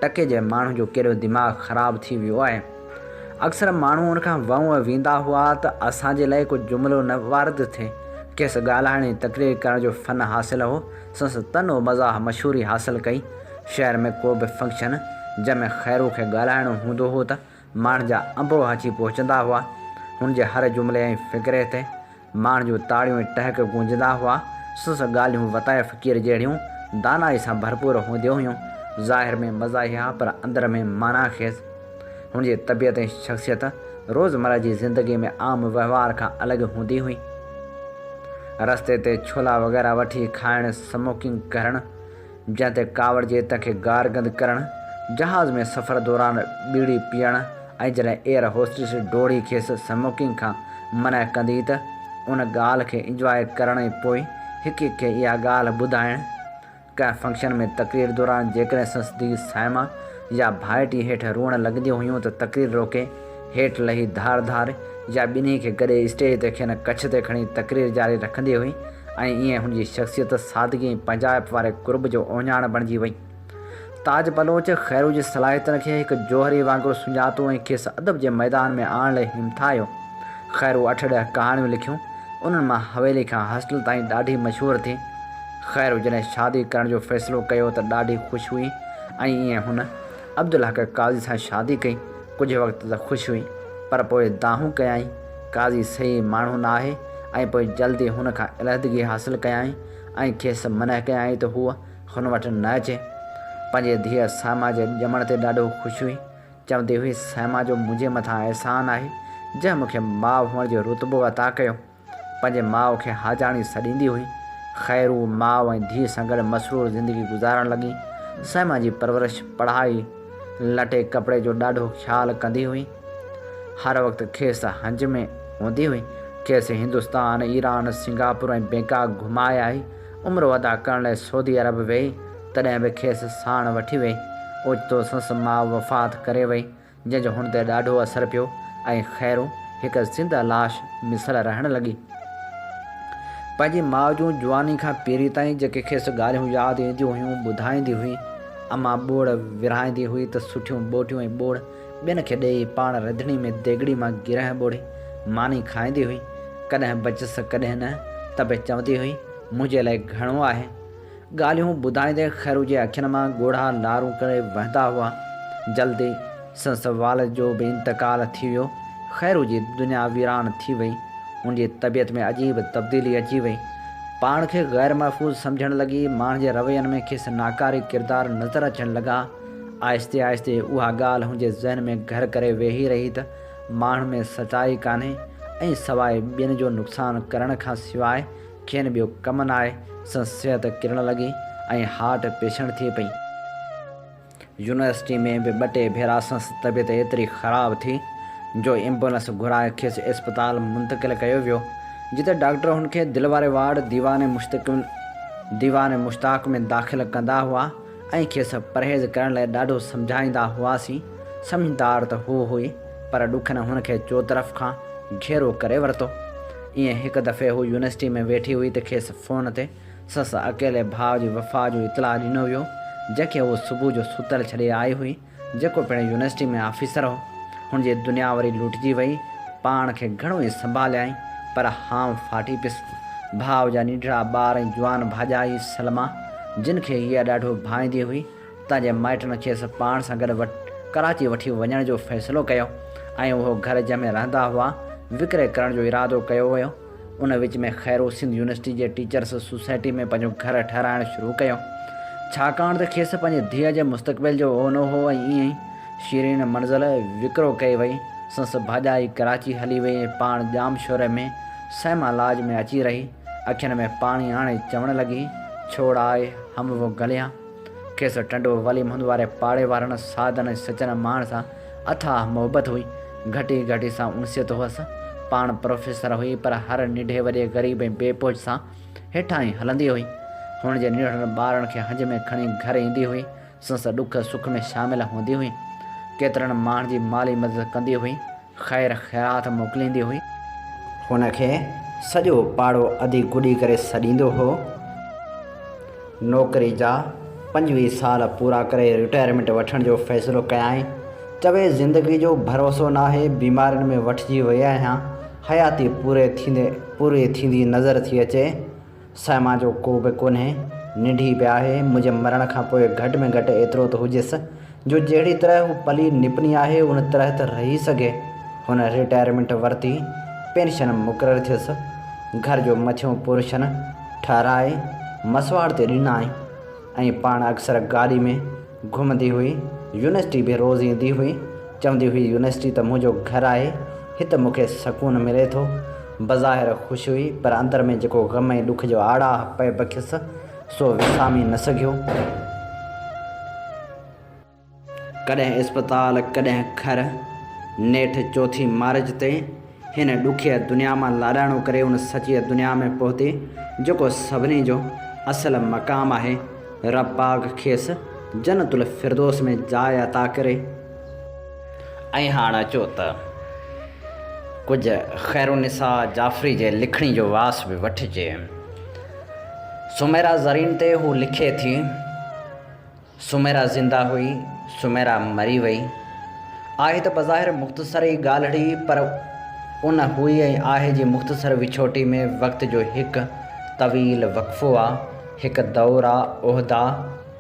ٽڪي جي ماڻهو جو ڪيڏو دماغ خراب ٿي ويو آهي. اڪثر ماڻهو ان کان وئون ويندا هئا ته اسان جي لاء ڪو جملو نه وارد ٿئي. کيس ڳالهائڻ ۽ تقرير ڪرڻ جو فن حاصل هو. سنس تن و مزاح مشهوري حاصل ڪئي. شهر ۾ ڪو به فنڪشن جنهن ۾ خيرو کي ڳالهائڻو هوندو هو ته ماڻهن جا انبوهه اچي پهچندا هئا. هن جي هر جملي ۽ فقري تي ماڻهن جون تاڙيون ۽ ٽهڪ گونجندا هئا. سنس ڳالهيون وتايه فقير جهڙيون دانائي سان ڀرپور هونديون هيون. ظاهر ۾ مزاحيه پر اندر ۾ معنيٰ خيز. هن جي طبيعت ۽ شخصيت روزمره جي زندگي ۾ عام وهنوار کان الڳ هوندي هئي. رستي تي ڇولا وغيره وٺي کائڻ، سموڪنگ ڪرڻ، جنهن تي ڪاوڙجي تنهن کي گار گند ڪرڻ، جهاز ۾ سفر دوران ٻيڙي پيئڻ ۽ جڏهن ايئر هوسٽس ڊوڙي کيس سموڪنگ کان منع ڪندي ته ان ڳالهه کي انجواء ڪرڻ ۽ پوء هڪ هڪ کي اها ڳالهه ٻڌائڻ، ڪنهن فنڪشن ۾ تقرير دوران جيڪڏهن سنس ڌيء صائمه يا ڀائٽي هيٺ روئڻ لڳنديون هيون ته تقرير روڪي هيٺ لهي ڌار ڌار يا ٻنهي کي گڏي اسٽيج تي کين ڪڇ تي کڻي تقرير جاري رکندي هئي ۽ ائين هن جي شخصيت سادگي ۽ پنهنجائپ واري قرب جو اوهڃاڻ بڻجي وئي. تاج بلوچ خيرو جي صلاحيتن کي هڪ جوهري وانگر سڃاتو ۽ کيس ادب جي ميدان ۾ آڻڻ لاء همٿايو. خيرو اٺ ڏهه ڪهاڻيون لکيون، انهن مان حويلي کان هاسٽل تائين ڏاڍي مشهور ٿي. خير جڏهن شادي ڪرڻ جو فيصلو ڪيو ته ڏاڍي خوش هئي ۽ ائين هن عبدالحق قاضي سان شادي ڪئي. ڪجهه وقت ته خوش هئي پر پوء دانهون ڪيائين، قاضي صحيح ماڻهو نه آهي ۽ پوء جلد ئي هن کان علحدگي حاصل ڪيائين ۽ کيس منع ڪيائين ته هوء هن وٽ نه اچي. پنهنجي ڌيء سائما جي ڄمڻ تي ڏاڍو خوش هئي. چوندي هئي، سائما جو منهنجي مٿان احسان آهي، جنهن مون کي ماء هئڻ جو رتبو عطا ڪيو. پنهنجي ماء کي حاجاڻي سڏيندي هئي. خيرو، ماء ۽ ڌيء سان گڏ مسرور زندگي گذارڻ لڳي. سئما جي پرورش، پڙهائي، لٽي ڪپڙي جو ڏاڍو خيال ڪندي هئي. هر وقت کيس هنج ۾ هوندي هئي. کيس هندستان، ايران، سنگاپور ۽ بئنڪاڪ گهمائي آئي. عمرو ادا ڪرڻ لاء سعودي عرب ويئي، تڏهن به کيس ساڻ وٺي ويئي. اوچتو سندس ماء وفات ڪري ويئي. جنهن جو هن تي ڏاڍو اثر پيو ۽ خيرون هڪ زنده لاش مثل رهڻ لڳي. پنهنجي ماء جون جواني کان پيري تائين جيڪي کيس ڳالهيون ياد اينديون هيون ٻڌائيندي هئي. امان ٻوڙ ورهائيندي هئي ته سٺيون ٻوٽيون ۽ ٻوڙ ٻين کي ڏيئي پاڻ رڌڻي ۾ ديڳڙي مان گرهه ٻوڙي ماني کائيندي هئي. ڪڏهن بچس ڪڏهن نه ته به چوندي هئي منهنجي لاء گهڻو آهي. ڳالهيون ٻڌائيندي خيرو جي اکين مان ڳوڙها لارون ڪري وهندا هئا. جلد ئي سندس والد جو به انتقال ٿي ويو. خيرو جي دنيا ويران ٿي وئي. هن جي طبيعت ۾ عجيب تبديلي اچي وئي. پاڻ کي غير محفوظ سمجهڻ لڳي. ماڻهن جي روين ۾ کيس ناڪاري ڪردار نظر اچڻ لڳا. آهستي آهستي اها ڳالهه هن جي ذهن ۾ گهر ڪري ويهي رهي ته ماڻهن ۾ سچائي ڪانهي ۽ سواء ٻين جو نقصان ڪرڻ کان سواء کين ٻيو ڪم نه آئي، سندس صحت ڪرڻ لڳي ۽ هارٽ پيشنٽ ٿئي پئي. يونيورسٽي ۾ به ٻه ٽي ڀيرا سندس طبيعت ايتري خراب ٿي جو ايمبولنس گهرائي کيس اسپتال منتقل ڪيو ويو، جتي ڊاڪٽر هن کي دل واري وارڊ ديوان مشتاق ۾ داخل ڪندا هئا. ۽ کيس پرهيز ڪرڻ لاء ڏاڍو سمجهائيندا هئاسين. سمجهدار ته هو هئي، پر ڏکن هن کي چوطرف کان گهيرو ڪري ورتو. ائين هڪ دفعي هو يونيورسٽيء ۾ ويٺي هئي ته کيس فون تي سس اڪيلي ڀاء جي وفات جو اطلاع ڏنو ويو، جنهن کي هوء صبح جو ستل ڇڏي آئي هئي. جيڪو پڻ يونيورسٽي ۾ آفيسر هو، هن جي دنيا وري لٽجي وئي. پاڻ کي گهڻو ئي سنڀاليائين، پر هانء ڦاٽي پيس. ڀاء جا نيٺڙا ٻار ۽ جوان ڀاڄائي سلميٰ، جن کي هيء ڏاڍو ڀائيندي هئي، تنهن جي مائٽن کيس پاڻ سان گڏ ڪراچي وٺي وڃڻ جو فيصلو ڪيو ۽ اهو گهر جنهن ۾ رهندا هئا، وڪري ڪرڻ جو ارادو ڪيو ويو. ان وچ ۾ خيرو سنڌ يونيورسٽي جي ٽيچرس سوسائٽي ۾ پنهنجو گهر ٺهرائڻ شروع ڪيو، ڇاڪاڻ ته کيس پنهنجي ڌيء جي مستقبل جو اونو هو ۽ ائين ئي شيرين منزل وڪرو ڪئي وئي. سنس ڀاڄائي ڪراچي هلي وئي ۽ پاڻ ڄام شوري ۾ سئما لاج ۾ اچي رهي. اکين ۾ پاڻي آڻي چوڻ لڳي، ڇوڙ آء هم و گليان. کيس ٽنڊو وليم هندواري پاڙي وارن سادن ۽ سچن ماڻهن سان اٿاهه محبت هئي، گهٽي گهٽي سان انسيت هئس. پاڻ پروفيسر هئي پر هر ننڍي وڏي غريب ۽ بي پهچ سان هيٺان ئي هلندي هئي. هن جي ننڍڙن ٻارڙن کي هنج ۾ کڻي گهر ايندي هئي، سنس ڏک سک ۾ شامل هوندي هئي. ڪيترن ماڻهن جي مالي مدد ڪندي هئي، خير خيرات موڪليندي هئي. هن کي سڄو پاڙو اڌي گڏي ڪري سڏيندو هو. نوڪري جا پنجويهه سال پورا ڪري رٽائرمينٽ وٺڻ جو فيصلو ڪيائين. چوي زندگي جو ڀروسو ناهي، بيمارين ۾ وٺجي وئي آهيان، حياتي پوري ٿيندي پوري ٿيندي نظر ٿي اچي. سائما جو ڪو به ڪونهي، ننڍي به آهي، منهنجي مرڻ کان پوء گهٽ ۾ گهٽ ايترو ته هجيس، جو جهڙي طرح هو پلي نپني آهي ان طرح ته رهي سگهي. هن رٽائرمينٽ ورتي، پينشن مقرر ٿيس، گهر جو مٿيون پورشن ٺهرائي مسواڙ تي ڏنائين ۽ پاڻ اڪثر گاڏي ۾ گهمندي هئي، يونيورسٽي به روز ايندي هئي، چوندي هئي يونيورسٽي ته منهنجو گهر آهي، هت مون کي سڪون ملي ٿو. بظاهر خوش هئي پر اندر ۾ جيڪو غم ۽ ڏک جو آڙاهه پئي بکيس، سو وسامي نه سگهيو. ڪڏهن اسپتال ڪڏهن گهر. نيٺ چوٿين مارچ تي هن ڏکيء دنيا مان لاڏاڻو ڪري ان سچيء دنيا ۾ پهتي جيڪو سڀني جو اصل مقام آهي. رب پاڪ کيس جنت الفردوس ۾ جاء عطا ڪري. ۽ هاڻ اچو ته ڪجهه خيرالنساء جعفري جي لکڻي جو واس به وٺجي. سميرا زرين تي هو لکي ٿي، سميرا زنده هئي، سميرا مري وئي. آهي ته بظاهر مختصر ئي ڳالهڙي پر ان هئي ۽ آهي جي مختصر وڇوٽي ۾ وقت جو هڪ طويل وقفو آ، هڪ دور آ، عهدا،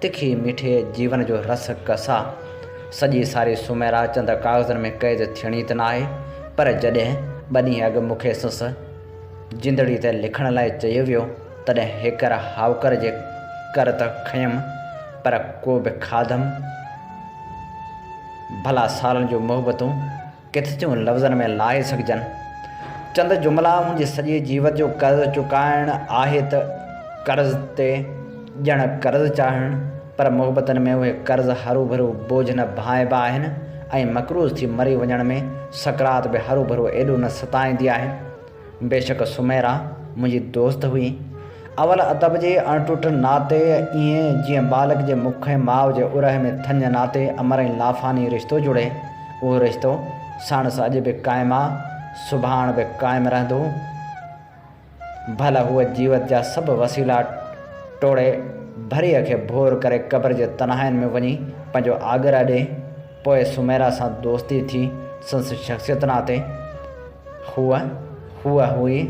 تکي ميٺي جيون جو رس ڪس آ. سڄي ساري سميرا چند ڪاغذن ۾ قيد ٿيڻي ته ناهي پر جڏهن ٻه ڏينهن اڳ مون کي سس، جندڙي تي لکڻ لاء چيو ويو، تڏهن هيڪر هائوڪر جي ڪر ته کنيم، پر ڪو به کاڌم. ڀلا سالن جون محبتون ڪٿ ٿيون لفظن ۾ لاهي سگهجن. چند جملا منهنجي سڄي جيوت جو قرض چڪائڻ آهي ته قرض تي ڄڻ قرض چاڙهڻ. پر محبتن ۾ اهي قرض هروڀرو بوجهه نه بهائبا آهن ۽ مقروض ٿي مري وڃڻ ۾ سڪرات به هروڀرو ايڏو نه ستائيندي آهي. بيشڪ سميرا منهنجي دوست هئي. اول ادب جي اڻٽٽ ناتي ائين جيئن ٻالڪ جي مک ۽ ماء جي اورهه ۾ ٿڃ ناتي امر ۽ لافاني رشتو جڙي. اهو رشتو ساڻس اڄ به قائم آ، سڀاڻ به قائم رهندو. ڀلا هوء جيوت جا سڀ وسيلا ٽوڙي ڀريء کي ڀور ڪري قبر جي تنهائين ۾ وڃي پنهنجو آڳرا ڏئي. پوء سميرا سان دوستي ٿي سندس شخصيت ناتي. هوء هوء هئي،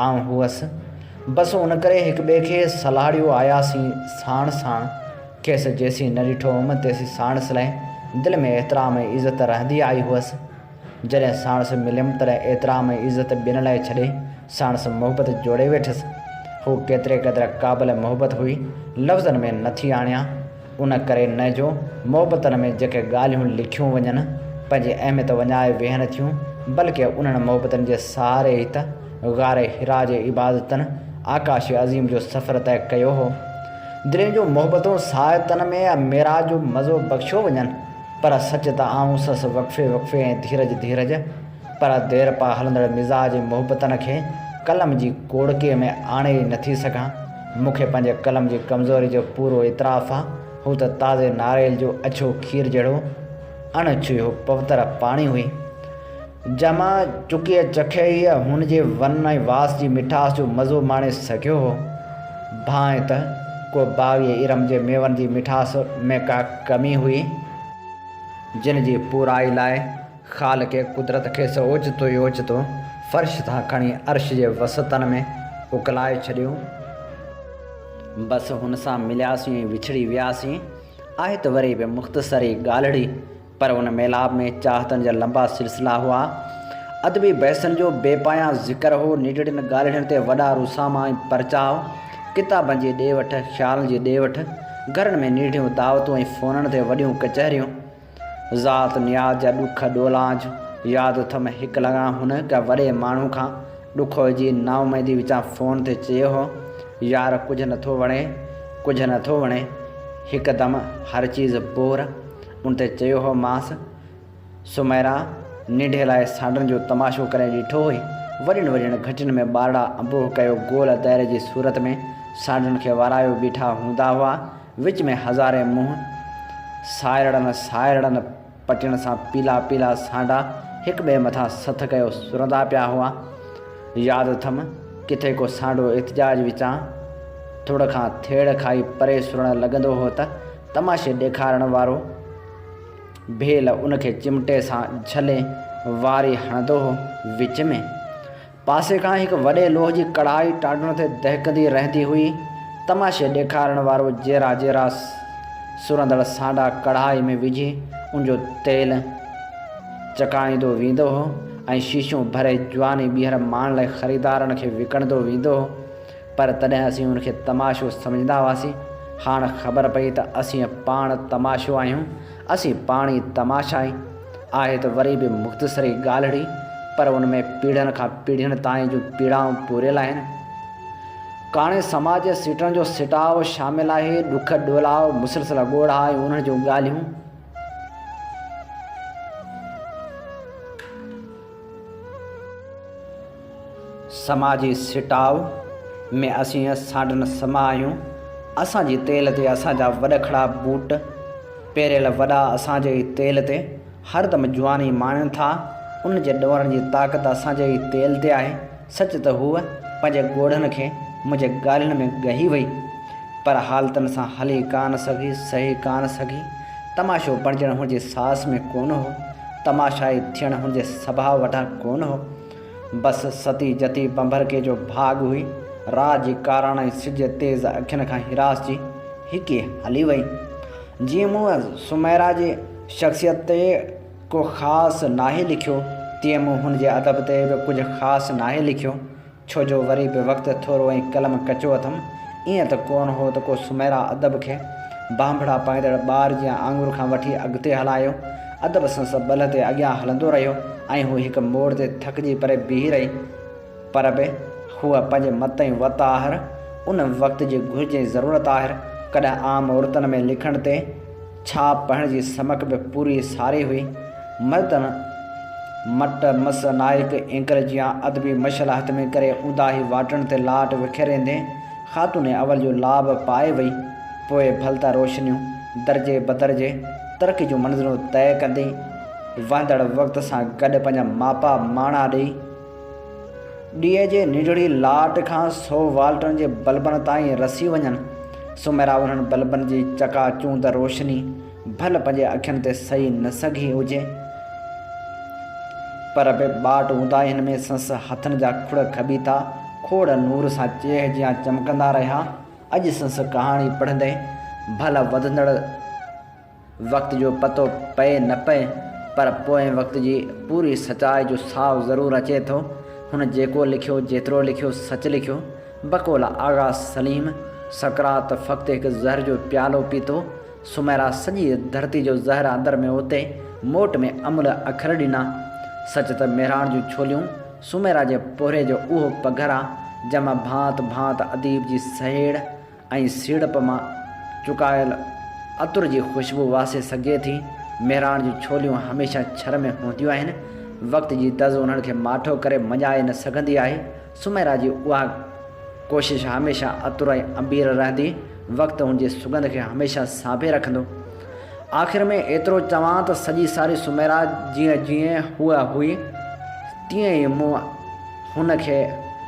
آئون هئس. بس ان ڪري هڪ ٻئي کي سلهاڙيو آياسين ساڻ ساڻ. کيس جيسين نه ڏٺو هوم تيسين ساڻس لاء دل ۾ احترام ۽ عزت رهندي آئي هئس. جڏهن ساڻس مليم تڏهن احترام ۽ عزت ٻين لاء ڇڏي ساڻس محبت جوڙي ويٺس. هوء ڪيتري قدر قابل محبت هئي، لفظن ۾ نه ٿي آڻيان. ان ڪري نه جو محبتن ۾ جيڪي ڳالهيون لکيون وڃن، پنهنجي اهميت وڃائي ويهن ٿيون، بلڪه انهن محبتن جي سهاري ئي ته غار حرا جي عبادتن آڪاش عظيم جو سفر طئي ڪيو هو. دلين جون محبتون ساعتن ۾ معراج جو مزو بخشيو وڃن. پر سچ ته آئون سس وقفي وقفي ۽ ڌيرج ڌيرج پر ديرپا هلندڙ مزاج ۽ محبتن کي قلم جي ڪوڙڪي ۾ آڻي ئي نٿي سگهان. مون کي پنهنجي قلم جي ڪمزوري جو پورو اعتراف آ. هو ته تازي ناريل جو اڇو کير جهڙو اڻ ڇهيو پوتر پاڻي هئي. جمع چڪيء چکيء هن جي ون ۽ واس جي مٺاس جو مزو ماڻي سگهيو هو. ڀانء ته ڪو باغي ارم جي ميون جي مٺاس ۾ ڪا ڪمي هئي، جن جي پورائي لاء خالق قدرت کيس اوچتو ئي اوچتو فرش تان کڻي عرش جي وسعتن ۾ اڪلائي ڇڏيو. بس هن سان ملياسين ۽ وڇڙي وياسين. آهي ته وري به مختصر ئي ڳالهڙي. پر ان ميلاپ ۾ چاهتن جا لنبا سلسلا هئا، ادبي بحثن جو بي پايان ذڪر هو، ننڍڙين ڳالهڙين تي وڏا روساما ۽ پرچاء، ڪتابن جي ڏي وٺ، خيالن جي ڏي وٺ، گهرن ۾ نيڍيون دعوتون ۽ فونن تي وڏيون ڪچهريون. ذات نياز جا ڏک ڏولانج ياد اٿم، هڪ لڱان هن ڪنهن وڏي ماڻهو کان ڏکوئي جي نااميدي وچان فون تي چيو هو، يار ڪجهه نٿو وڻي، ڪجهه نٿو وڻي، هڪدم هر چيز بور. ان تي چيو هو مانس، سميرا ننڍي لاء سانڊن جو تماشو ڪڏهن ڏٺو هئي؟ وڏين وڏين گهٽين ۾ ٻارڙا انبوهه ڪيو گول دائري جي صورت ۾ سانڊن کي وارايو بيٺا هوندا هئا، وچ ۾ هزارين منهن سائرڙن سائرڙن پٽين سان پيلا پيلا سانڊا هڪٻئي مٿان سٿ ڪيو سرندا پيا هئا. ياد اٿم، ڪٿي ڪو سانڊو احتجاج وچان ٿڙ کان ٿيڙ کائي پري سرڻ لڳندو هو ته تماشي ڏيکارڻ وارو ڀيل ان کي چمٽي سان جھلي واري ھڻندو ھو. وچ ۾ پاسي کان ھڪ وڏي لوھ جي ڪڙھائي ٽانڊڻ تي دهڪندي رهندي ھئي. تماشي ڏيکارڻ وارو جيرا جيرا سرندڙ سانڊا ڪڙھائي ۾ وجھي ان جو تيل چڪاڻيندو ويندو ھو ۽ شيشون ڀري جواني ٻيھر ماڻڻ لاء خريدارن کي وڪڻندو ويندو ھو. پر تڏهن اسين ان کي تماشو سمجهندا هئاسين، هاڻ خبر پئي ته اسين پاڻ تماشو آهيون، اسين پاڻ ئي تماشا آهيون. آهي ته وري به مختصري ڳالهڙي، پر ان ۾ پيڙهين کان پيڙهين تائين جون پيڙائون پوريل آهن. ڪاڻي سماج جي سيٽڻ جو سٽاء شامل آهي، ڏک ڏولاء، مسلسل ڳوڙها ۽ انهن جون ڳالهيون. سماء جي سٽاء ۾ اسين سانڊن سما آهيون. اسان جي تيل تي اسان جا وڏکڙا بوٽ پيريل وڏا اسان جي ئي تيل تي هر دم جواني ماڻين ٿا. ان جي ڏورن جي طاقت اسان جي ئي تيل تي آهي. سچ ته هوء پنهنجي ڳوڙهن کي منهنجي ڳالهين ۾ ڳهي وئي، پر حالتن سان هلي ڪانه سگهي، سهي ڪانه سگهي. تماشو بڻجڻ هن جي ساس ۾ ڪونه هو، تماشائي ٿيڻ هن جي سڀاء وٽان ڪونه هو. بس ستي جتي ڀنڀرڪي جو ڀاڳ هئي، رات جي ڪاراڻائي سج جي تيز اکين کان هراسجي هڪي هلي وئي. جيئن مون سميرا جي شخصيت تي ڪو خاص ناهي لکيو، تيئن مون هن جي ادب تي به ڪجهه خاص ناهي لکيو، ڇو جو وري به وقت ٿورو ۽ قلم ڪچو اٿم، ائين ته ڪونه هو ته ڪو سميرا ادب کي ڀانڀڙا پائيندڙ ٻار جيان آڱر کان وٺي اڳتي هلايو، ادب سنس ٻلهه تي اڳيان هلندو رهيو ۽ هو هڪ موڙ تي ٿڪجي پري بيهي رهي، پر به هوء پنهنجي مت ۽ وت آهر، ان وقت جي گهرج ۽ ضرورت آهر، ڪڏهن عام عورتن ۾ لکڻ تي. ڇا پهڻ جي سمڪ به پوري ساري هئي. مردن مٽ مس نائڪ اينڪر جيان ادبي مشعل هٿ ۾ ڪري اونداهي واٽن تي لاٽ وکيريندي خاتون اول جو لاب پائي وئي. پوء ڀل ته روشنيون درجي بدرجي ترقي جون منزلون طئي ڪندي وهندڙ وقت سان گڏ پنهنجا ماپا ماڻا ڏئي، ڏيئي جي ننڍڙي لاٽ کان سو والٽن جي بلبن تائين رسي وڃن، سوميرا انهن بلبن جي چڪا چوند روشني ڀل پنهنجي اکين تي سهي نه سگهي هجي، پر به ٻاٽ هوندا هن ۾ سنس هٿن جا کڙ کٻي ٿا کوڙ نور سان چيهه جيان چمڪندا رهيا، اڄ سنس ڪهاڻي پڙهندي ڀل وڌندڙ. وقت جو پتو پئي نه پئي پر پوئين وقت جي پوري سچائي جو ساهه ضرور اچي ٿو. هن جيڪو لکيو، جيترو لکيو، سچ لکيو. بقول آغا سليم، سقراط فقط هڪ زهر جو پيالو پيتو. سميرا سڄي ڌرتي جو زهر اندر ۾ اوتي، موٽ ۾ املهه اکر ڏنا. سچ ته مهراڻ جون ڇوليون، سميرا جي پورهيي جو اهو پگهر آ، جنهن مان ڀانت ڀانت اديب جي سهيڙ، ۽ سيڙپ مان چڪايل عطر جي خوشبو واسي سگهجي ٿي. مهراڻ جون ڇوليون هميشه ڇر ۾ هونديون آهن. وقت جي دز انهن کي ماٺو ڪري مڃائي نه سگهندي آهي. سميرا جي اها ڪوشش هميشه عطر ۽ عبير رهندي. وقت هن جي سڳنڌ کي هميشه سانڀي رکندو. آخر ۾ ايترو چوان ته سڄي ساري سميرا جيئن جيئن هوء هئي تيئن ئي مون هن کي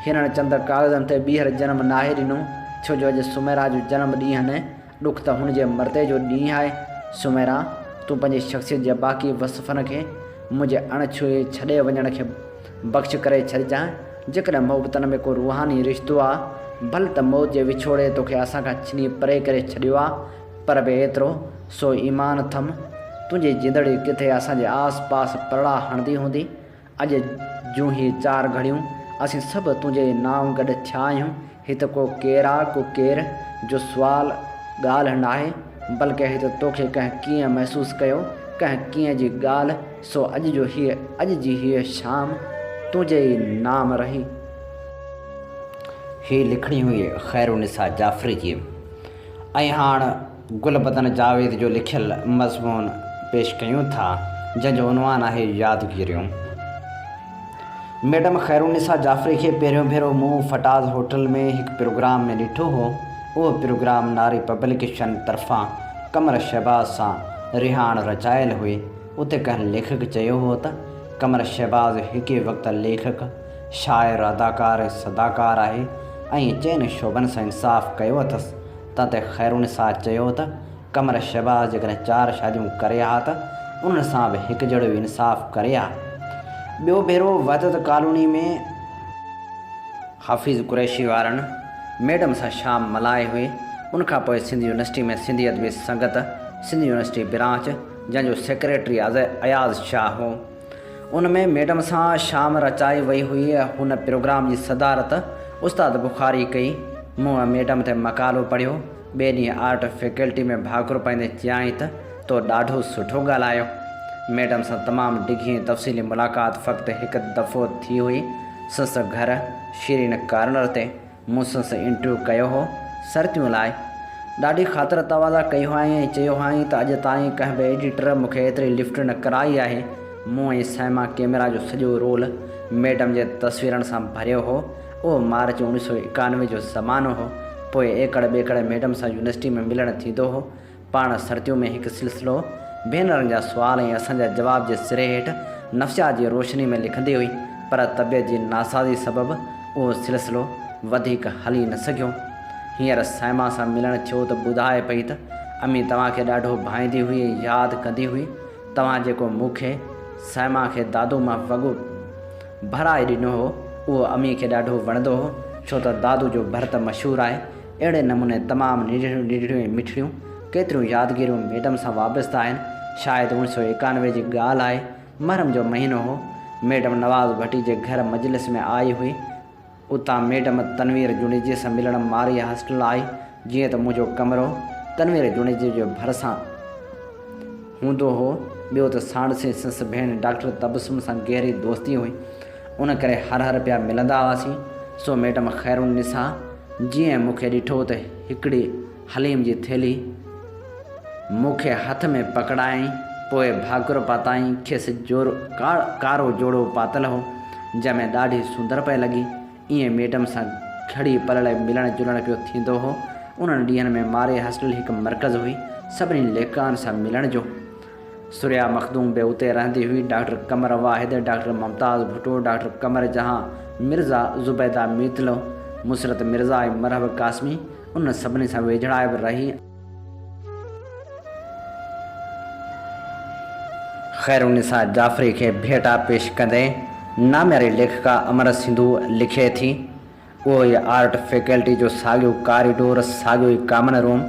هرڻ چندر ڪاغذن تي ٻيهر جنم ناهي ڏنو، ڇو جو اڄ سميرا جو جنم ڏينهن نه، ڏک ته هن جي مردي جو ڏينهن آهي. سميرا! تون پنهنجي شخصيت جي باقي وصفن کي منهنجي اڻ ڇهي ڇڏي وڃڻ کي بخش ڪري ڇڏجانء. جيڪڏهن محبتن ۾ ڪو روحاني رشتو آ، ڀل ته موت جي وڇوڙي توکي اسان کان ڇني پري ڪري ڇڏيو آ، پر به ايترو سو ايمان اٿم، تنهنجي جندڙي ڪٿي اسان جي آس پاس پرڙا هڻندي هوندي، اڄ جون هي چار گهڙيون، اسين سڀ تنهنجي نانء گڏ ٿيا آهيون. هي ته ڪو ڪير آ، ڪو ڪير جو سوال ڳالهه ناهي، بلڪه هي ته توکي ڪنهن ڪيئن محسوس ڪيو، ڪنهن ڪيئن جي ڳالهه، سو اڄ جو هيء، اڄ جي هيء شام تنهنجي ئي نام رهي. هي لکڻي هئي خيرالنساء جعفري جي ۽ هاڻ. گل بدن جاويد جو لکيل مضمون پيش ڪيون ٿا جنهن جو عنوان آهي يادگيريون. ميڊم خيرالنساء جعفري کي پهريون ڀيرو مون فٽاز هوٽل ۾ هڪ پروگرام ۾ ڏٺو هو. اهو پروگرام ناري پبليڪيشن طرفان قمر شهباز سان رهاڻ رچايل هئي. اتي ڪنهن ليکڪ چيو هو ته قمر شهباز هڪي وقت ليکڪ، شاعر، اداڪار، صداڪار آهي ۽ چئن شعبن سان انصاف ڪيو اٿس تنهن تي خيرالنساء چيو ته قمر شهباز جيڪڏهن چار شاديون ڪري ها ته انهن سان به هڪجهڙو ئي انصاف ڪري ها. ٻيو ڀيرو وحدت ڪالوني ۾. حفيظ قريشي وارن ميڊم سان شام ملهائي هئي. ان کان پوء Sindh university ۾ Sindhi Adabi Sangat, Sindh university branch, جنهن جو سيڪريٽري اياز شاهه هو، ان ۾ ميڊم سان شام رچائي وئي هئي. هن پروگرام جي صدارت استاد بخاري ڪئي. مون ميڊم تي مقالو پڙهيو. ٻئي ڏينهن آرٽ فيڪلٽي ۾ ڀاڪر پائيندي چيائين ته تو ڏاڍو سٺو ڳالهايو. ميڊم سان تمام ڊگهي ۽ تفصيلي ملاقات فقط هڪ دفعو ٿي هئي. سنس گهر شيرين ڪارنر تي. مون سن سي انٽرويو ڪيو هو سرتيون لاء. ڏاڍي خاطر تواضع ڪئي هئائين ۽ چيو هئائين ته اڄ تائين ڪنهن به ايڊيٽر مون کي ايتري لفٽ نه ڪرائي آهي. مون ۽ سائما ڪيميرا جو سڄو رول ميڊم جي تصويرن سان ڀريو هو. اهو مارچ اوڻيهه سؤ ايڪانوي جو زمانو هو. پوء ايڪڙ ٻيڪڙ ميڊم سان يونيورسٽي ۾ ملڻ ٿيندو هو. پاڻ سرتيون ۾ هڪ سلسلو ڀينرن جا سوال ۽ اسان جا جواب جي سري هيٺ نفسيات جي روشني ۾ لکندي هئي، پر طبيعت جي ناسازي سبب اهو سلسلو وڌيڪ هلي نه سگهيو. هينئر صائمه سان ملڻ ٿيو ته ٻڌائي پئي ته امي توهان کي ڏاڍو ڀائيندي هئي ۽ ياد ڪندي هئي. توهان جيڪو مون کي، صائمه کي دادو مان وڳو ڀرائي ڏنو هو، اهو امي کي ڏاڍو وڻندو هو، ڇو ته دادو جو ڀرت مشهور آهي، اهڙي نموني تمام ننڍڙيون ننڍڙيون ۽ مٺڙيون ڪيتريون يادگيريون ميڊم سان وابسته آهن. شايد اوڻ سو ايڪانوي جي ڳالهه آهي. محرم جو مهينو هو. ميڊم نواز ڀٽي جي گهر مجلس ۾ آئي هئي. اتان ميڊم تنوير جوڻيجي سان ملڻ مارئي هاسٽل آئي. جيئن ته منهنجو ڪمرو تنوير جوڻيجي جي ڀرسان هوندو هو. ٻيو ته ساڻسي سس ڀيڻ ڊاڪٽر تبسم سان گهري دوستي هئي. ان ڪري هر هر پيا ملندا هئاسين، سو ميڊم خير النساء جيئن مون کي ڏٺو ته هڪڙي حليم جي ٿيلهي مون کي هٿ ۾ پڪڙايائين، پوء ڀاڪر پاتائين، کيس جورو ڪارو جوڙو پاتل هو، جنهن ۾ ڏاڍي سندر پئي لڳي، ايئن ميڊم سان گهڙي پل لاء ملڻ جلڻ پيو ٿيندو هو، انهن ڏينهن ۾ مارئي هاسٽل هڪ مرڪز هئي، سڀني ليکڪائن سان ملڻ جو. ثريا مخدوم به اتي رهندي هئي، doctor Qamar Wahid, doctor Mumtaz Bhutto, doctor Qamar Jahan, Mirza Zubaida Metlo, مسرت مرزا ۽ مرحب قاسمي انهن سڀني سان ويجهڙائي به رهي. خيرالنساء جعفري کي ڀيٽا پيش ڪندي نامياري ليکڪا امر سنڌو لکي ٿي. اهو ئي آرٽ فيڪلٽي جو ساڳيو ڪاريڊور، ساڳيو ئي ڪامن روم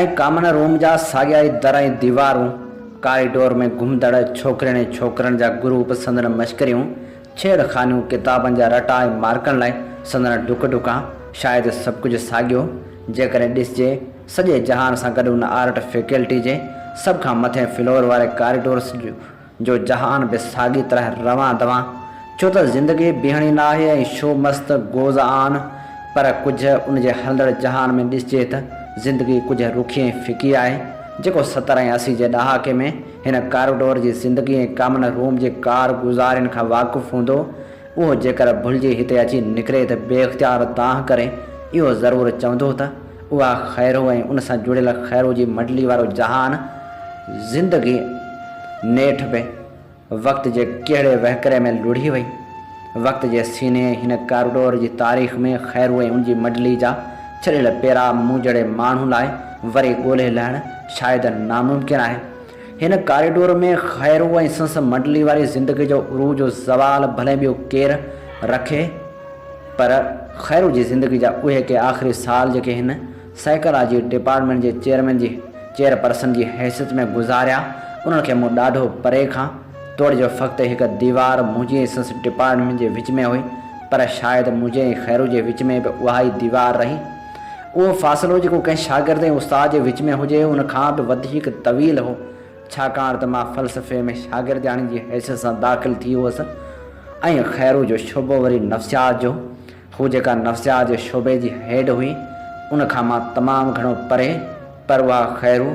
۽ ڪامن روم جا ساڳيا ئي در ۽ ديوارون، ڪاريڊور ۾ گهمندڙ ڇوڪرين ۽ ڇوڪرن جا گروپ، سندن مشڪريون، ڇيڙ خانيون، ڪتابن جا رٽا ۽ مارڪن لاء سندن ڊڪ ڊڪا، شايد سڀ ڪجهه ساڳيو، جيڪڏهن ڏسجي، سڄي جهان سان گڏ ان آرٽ فيڪلٽي جي سڀ کان مٿين فلور واري ڪاريڊورس جو جو جهان به ساڳي طرح روان دوان، ڇو ته زندگي بيهڻي نه آهي ۽ شو مست گوز آن، پر ڪجهه ان جي هلندڙ جهان ۾ ڏسجي ته زندگي ڪجهه رکي ۽ ڦڪي آهي، جيڪو ستر ۽ اسي جي ڏهاڪي ۾ هن ڪارڊور جي زندگي ۽ ڪامن روم جي ڪار گذارين کان واقف هوندو، اهو جيڪر ڀلجي هتي اچي نڪري ته بي اختيار دانهن ڪري اهو ضرور چوندو ته. اها خيرو ۽ ان سان جڙيل خيرو جي مڊلي وارو جهان، زندگي، نيٺ به وقت جي ڪهڙي وهڪري ۾ لڙهي وئي. وقت جي سيني هن ڪارڊور جي تاريخ ۾ خيرو ۽ ان جي مڊلي جا ڇڏيل پيرا مون جهڙي ماڻهو لاء وري ڳولهي لهڻ شايد ناممڪن آهي. هن ڪاريڊور ۾ خيرو ۽ سنس منڊلي واري زندگي جو عروج و زوال ڀلي ٻيو ڪير رکي پر خيرو جي زندگي جا اهي ڪي آخري سال جيڪي هن سائيڪالاجي ڊپارٽمينٽ جي چيئرمين جي چيئر پرسن جي حيثيت ۾ گذاريا انهن کي مون ڏاڍو پري کان توڙي جو فقط هڪ ديوار منهنجي ۽ سنس ڊپارٽمينٽ جي وچ ۾ هئي پر شايد منهنجي ۽ خيرو جي وچ ۾ به اهائي ديوار رهي اهو فاصلو جيڪو ڪنهن شاگرد ۽ استاد جي وچ ۾ هجي، ان کان به وڌيڪ طويل هو، ڇاڪاڻ ته مان فلسفي ۾ شاگردياڻي جي حيثيت سان داخل ٿي هئس ۽ خيرو جو شعبو وري نفسيات جو هو، جيڪا نفسيات جي شعبي جي هيڊ هئي، ان کان مان تمام گهڻو پري، پر اها خيرو،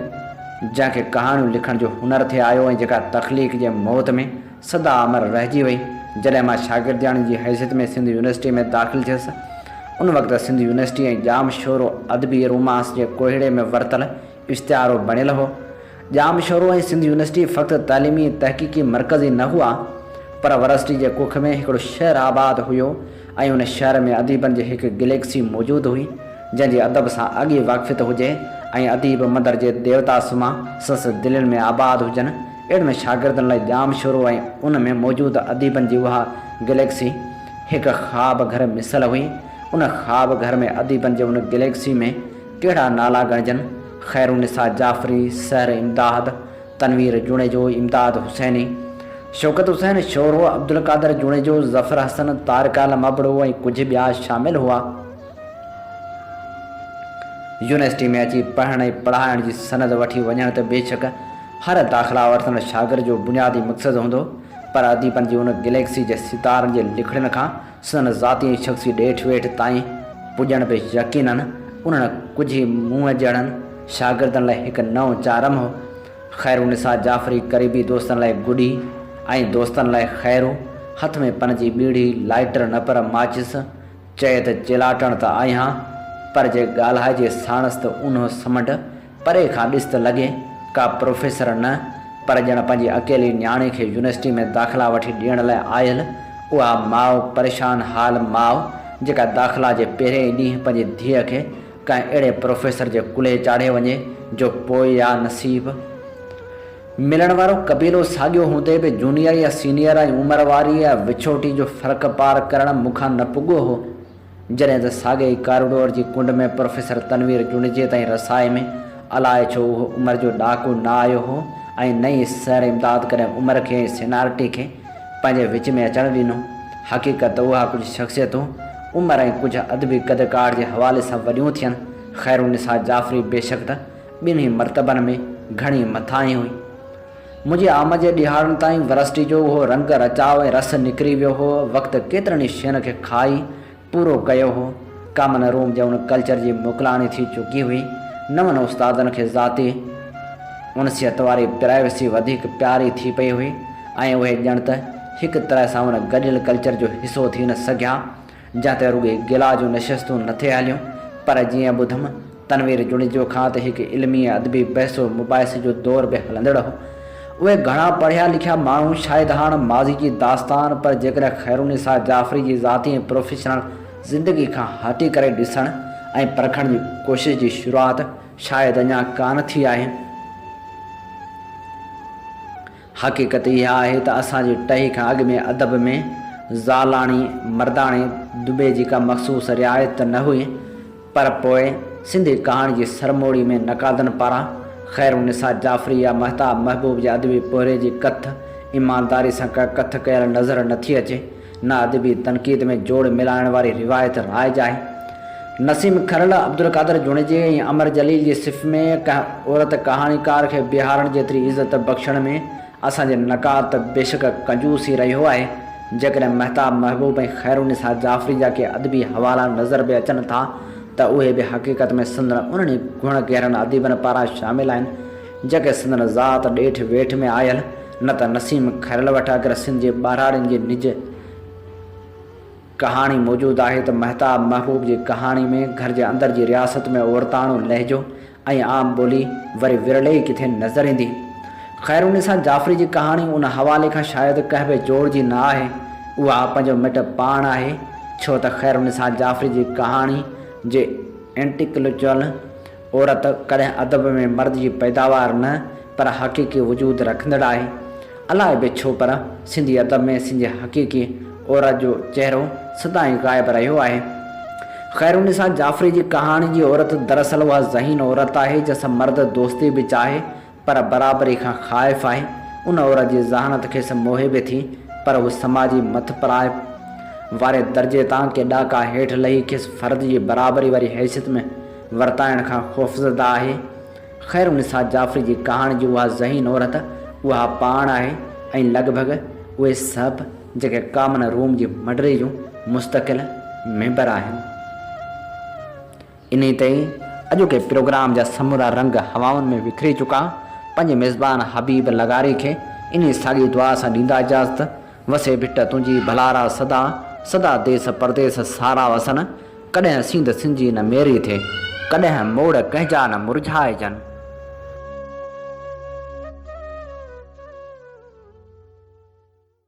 جنهن کي ڪهاڻيون لکڻ جو هنر ٿي آيو ۽ جيڪا تخليق جي موت ۾. سدا امر رهجي وئي. جڏهن مان شاگردياڻي جي حيثيت ۾ سنڌ يونيورسٽيء ۾ داخل ٿيس، ان وقت سنڌ يونيورسٽيء ۽ ڄام شورو ادبي رومانس جي ڪوهيڙي ۾ ورتل اشتهارو بڻيل هو. ڄام شورو ۽ سنڌ يونيورسٽي فقط تعليمي ۽ تحقيقي مرڪز ئي نه هئا، پر ورسٽي جي ڪک ۾ هڪڙو شهر آباد هيو ۽ ان شهر ۾ اديبن جي هڪ گليڪسي موجود هئي، جنهن جي ادب سان اڳي واقفيت هجي ۽ اديب مندرجي ديوتا سما سنس دلين ۾ آباد هجن. اهڙي ۾ شاگردن لاء ڄام شورو ۽ ان ۾ موجود اديبن جي اها گليڪسي هڪ خواب گهر مثل هئي. ان خواب گهر ۾ اديبن جي ان گليڪسي ۾ ڪهڙا نالا ڳڻجن، خيرالنساء جعفري، سحر امداد، تنوير جوڻيجو، امداد حسيني، شوڪت حسين شورو، عبدالقادر جوڻيجو، ظفر حسن، طارق عالم ابڙو ۽ ڪجهه ٻيا شامل هئا. يونيورسٽي ۾ اچي پڙهڻ ۽ پڙهائڻ جي سند وٺي وڃڻ ته بيشڪ هر داخلا ورتل شاگرد جو بنيادي مقصد هوندو پر اديبن جي ان گليڪسي جي ستارن جي لکڻين کان سندن ذاتي ۽ شخصي ڏيٺ ويٺ تائين پڄڻ به يقينن انهن ڪجهه ئي مون جهڙن شاگردن لاء هڪ نئون چارم هو. خيرالنساء جعفري قريبي دوستن لاء گڏي ۽ دوستن لاء خيرو هٿ ۾ پن جي ٻيڙي، لائيٽر نه پر ماچس، چئي ته چيلاٽڻ ته آهيان، پر جي ڳالهائجي ساڻس ته اونهو سمنڊ، پري کان ڏس ته لڳي ڪا پروفيسر نه، پر ڄڻ پنهنجي اڪيلي نياڻي کي يونيورسٽي ۾ داخلا وٺي ڏيڻ لاء آيل اها ماء، پريشان حال ماء، جيڪا داخلا جي پهرئين ئي ڏينهن پنهنجي ڌيء کي ڪنهن اهڙي پروفيسر جي ڪلهي چاڙهي وڃي، جو پوء يا نصيب! ملڻ وارو قبيلو ساڳيو هوندي به جونيئر يا سينيئر ۽ عمر واري يا وڇوٽي جو فرق پار ڪرڻ مون کان نه پڳو هو. جڏهن ته ساڳي ئي ڪارڊور جي ڪنڊ ۾ پروفيسر تنوير جوڻيجي تائين رسائي ۾ الاء ڇو اهو عمر جو ڏاڪو نه آيو هو ۽ نه ئي سر امداد ڪڏهن عمر کي ۽ سينارٽي کي پنهنجي وچ ۾ اچڻ ڏنو. حقيقت ته اها ڪجهه شخصيتون عمر ۽ ڪجهه ادبي قد ڪاٺ جي حوالي سان وڏيون ٿين. خيرالنساء جعفري بيشڪ ته ٻنهي مرتبن ۾ گهڻي مٿاهين هئي. منهنجي آمد جي ڏهاڙن تائين ورسٽي جو اهو رنگ رچاء ۽ رس نڪري ويو هو. وقت ڪيترن ئي شين کي کائي پورو ڪيو هو. ڪامن روم جي ان ڪلچر جي موڪلاڻي ٿي چڪي هئي. نون استادن کي ذاتي انسيت واري پرائيوسي وڌيڪ پياري ٿي پئي هئي ۽ اهي ڄڻ ته هڪ طرح سان ان گڏيل ڪلچر جو حصو ٿي نه سگهيا. جنهن تي رڳي گلا جون نشستون نه ٿي هليون پر جيئن ٻڌم تنوير جوڻيجو کان ته هڪ علمي ۽ ادبي بحثو مباحثي جو دور به هلندڙ هو. اهي گهڻا پڙهيا لکيا ماڻهو شايد هاڻ ماضي جي داستان پر جيڪڏهن خيرالنساء جعفري جي ذاتي ۽ پروفيشنل زندگي کان هٽي ڪري ڏسڻ ۽ پرکڻ جي ڪوشش جي شروعات شايد اڃا ڪانه ٿي آهي. حقيقت اها آهي ته اسان جي ٽهي کان اڳ ۾ ادب ۾ زالاڻي، مرداڻي، دٻي جي ڪا مخصوص رعايت ته نه هئي، پر پوء سنڌي ڪهاڻي جي سرموڙي ۾ نقادن پاران خيرالنساء جعفري يا مهتاب محبوب جي ادبي پورهيي جي ڪٿ ايمانداري سان ڪا ڪٿ ڪيل نظر نٿي اچي. نه ادبي تنقيد ۾ جوڙ ملائڻ واري روايت رائج آهي. نسيم کرل، عبدالقادر جوڻيجي ۽ امر جليل جي صف ۾ ڪنهن عورت ڪهاڻيڪار کي بيهارڻ جيتري عزت بخشڻ ۾ اسان جي نقاد ته بيشڪ ڪنجوس ئي رهيو آهي. جيڪڏهن مهتاب محبوب ۽ خيرالنساء جعفري جا ڪي ادبي حوالا نظر به اچن ٿا ته اهي به حقيقت ۾ سندن انهن ئي گهڻ گهرن اديبن پاران شامل آهن، جيڪي سندن ذات ڏيٺ ويٺ ۾ آيل، نه ته نسيم کرل وٽ اگر سنڌ جي ٻهراڙين جي نج ڪهاڻي موجود آهي ته مهتاب محبوب جي ڪهاڻي ۾ گهر جي اندر جي رياست ۾ عورتاڻو لهجو ۽ عام ٻولي وري ورلي ئي ڪٿي نظر ايندي. خيرالنساء جعفري جي ڪهاڻي ان حوالي کان شايد ڪهوي جوڙ جي نه آهي، اها پنهنجو مٽ پاڻ آهي، ڇو ته خيرالنساء جعفري جي ڪهاڻي جي انٽيڪلچوئل، عورت ڪڏهن ادب ۾ مرد جي پيداوار نه پر حقيقي وجود رکندڙ آهي. الائي به ڇو پر سنڌي ادب ۾ سنڌي حقيقي عورت جو چهرو سدائين غائب رهيو آهي. خيرالنساء جعفري جي ڪهاڻي جي عورت دراصل اها ذهين عورت آهي جنسان مرد دوستي به چاهي پر برابري کان خائف آهي. ان عورت جي ذهانت کيس موهي به ٿي، پر هو سماجي مٿ پرائپ واري درجي تان ڪي ڏاڪا هيٺ لهي کيس فرد جي برابري واري حيثيت ۾ ورتائڻ کان خوفزده آهي. خيرالنساء جعفري جي ڪهاڻي جي اها ذهين عورت اها پاڻ آهي ۽ لڳ ڀڳ اهي سڀ جيڪي ڪامن روم جي مڊري جون مستقل ميمبر آهن. انهيء تي ئي اڄوڪي پروگرام جا سمورا رنگ هوائن ۾ وکري چڪا. پنهنجي ميزبان حبيب لغاري کي انهيء ساڳي دعا سان ڏيندا اجازت، وسي ڀٽ تنهنجي ڀلارا سدا، سدا ديس پرديس سارا وسن، ڪڏهن سينڌ سنجي نه ميري ٿئي، ڪڏهن موڙ ڪنهن جا نه مرجهائجن.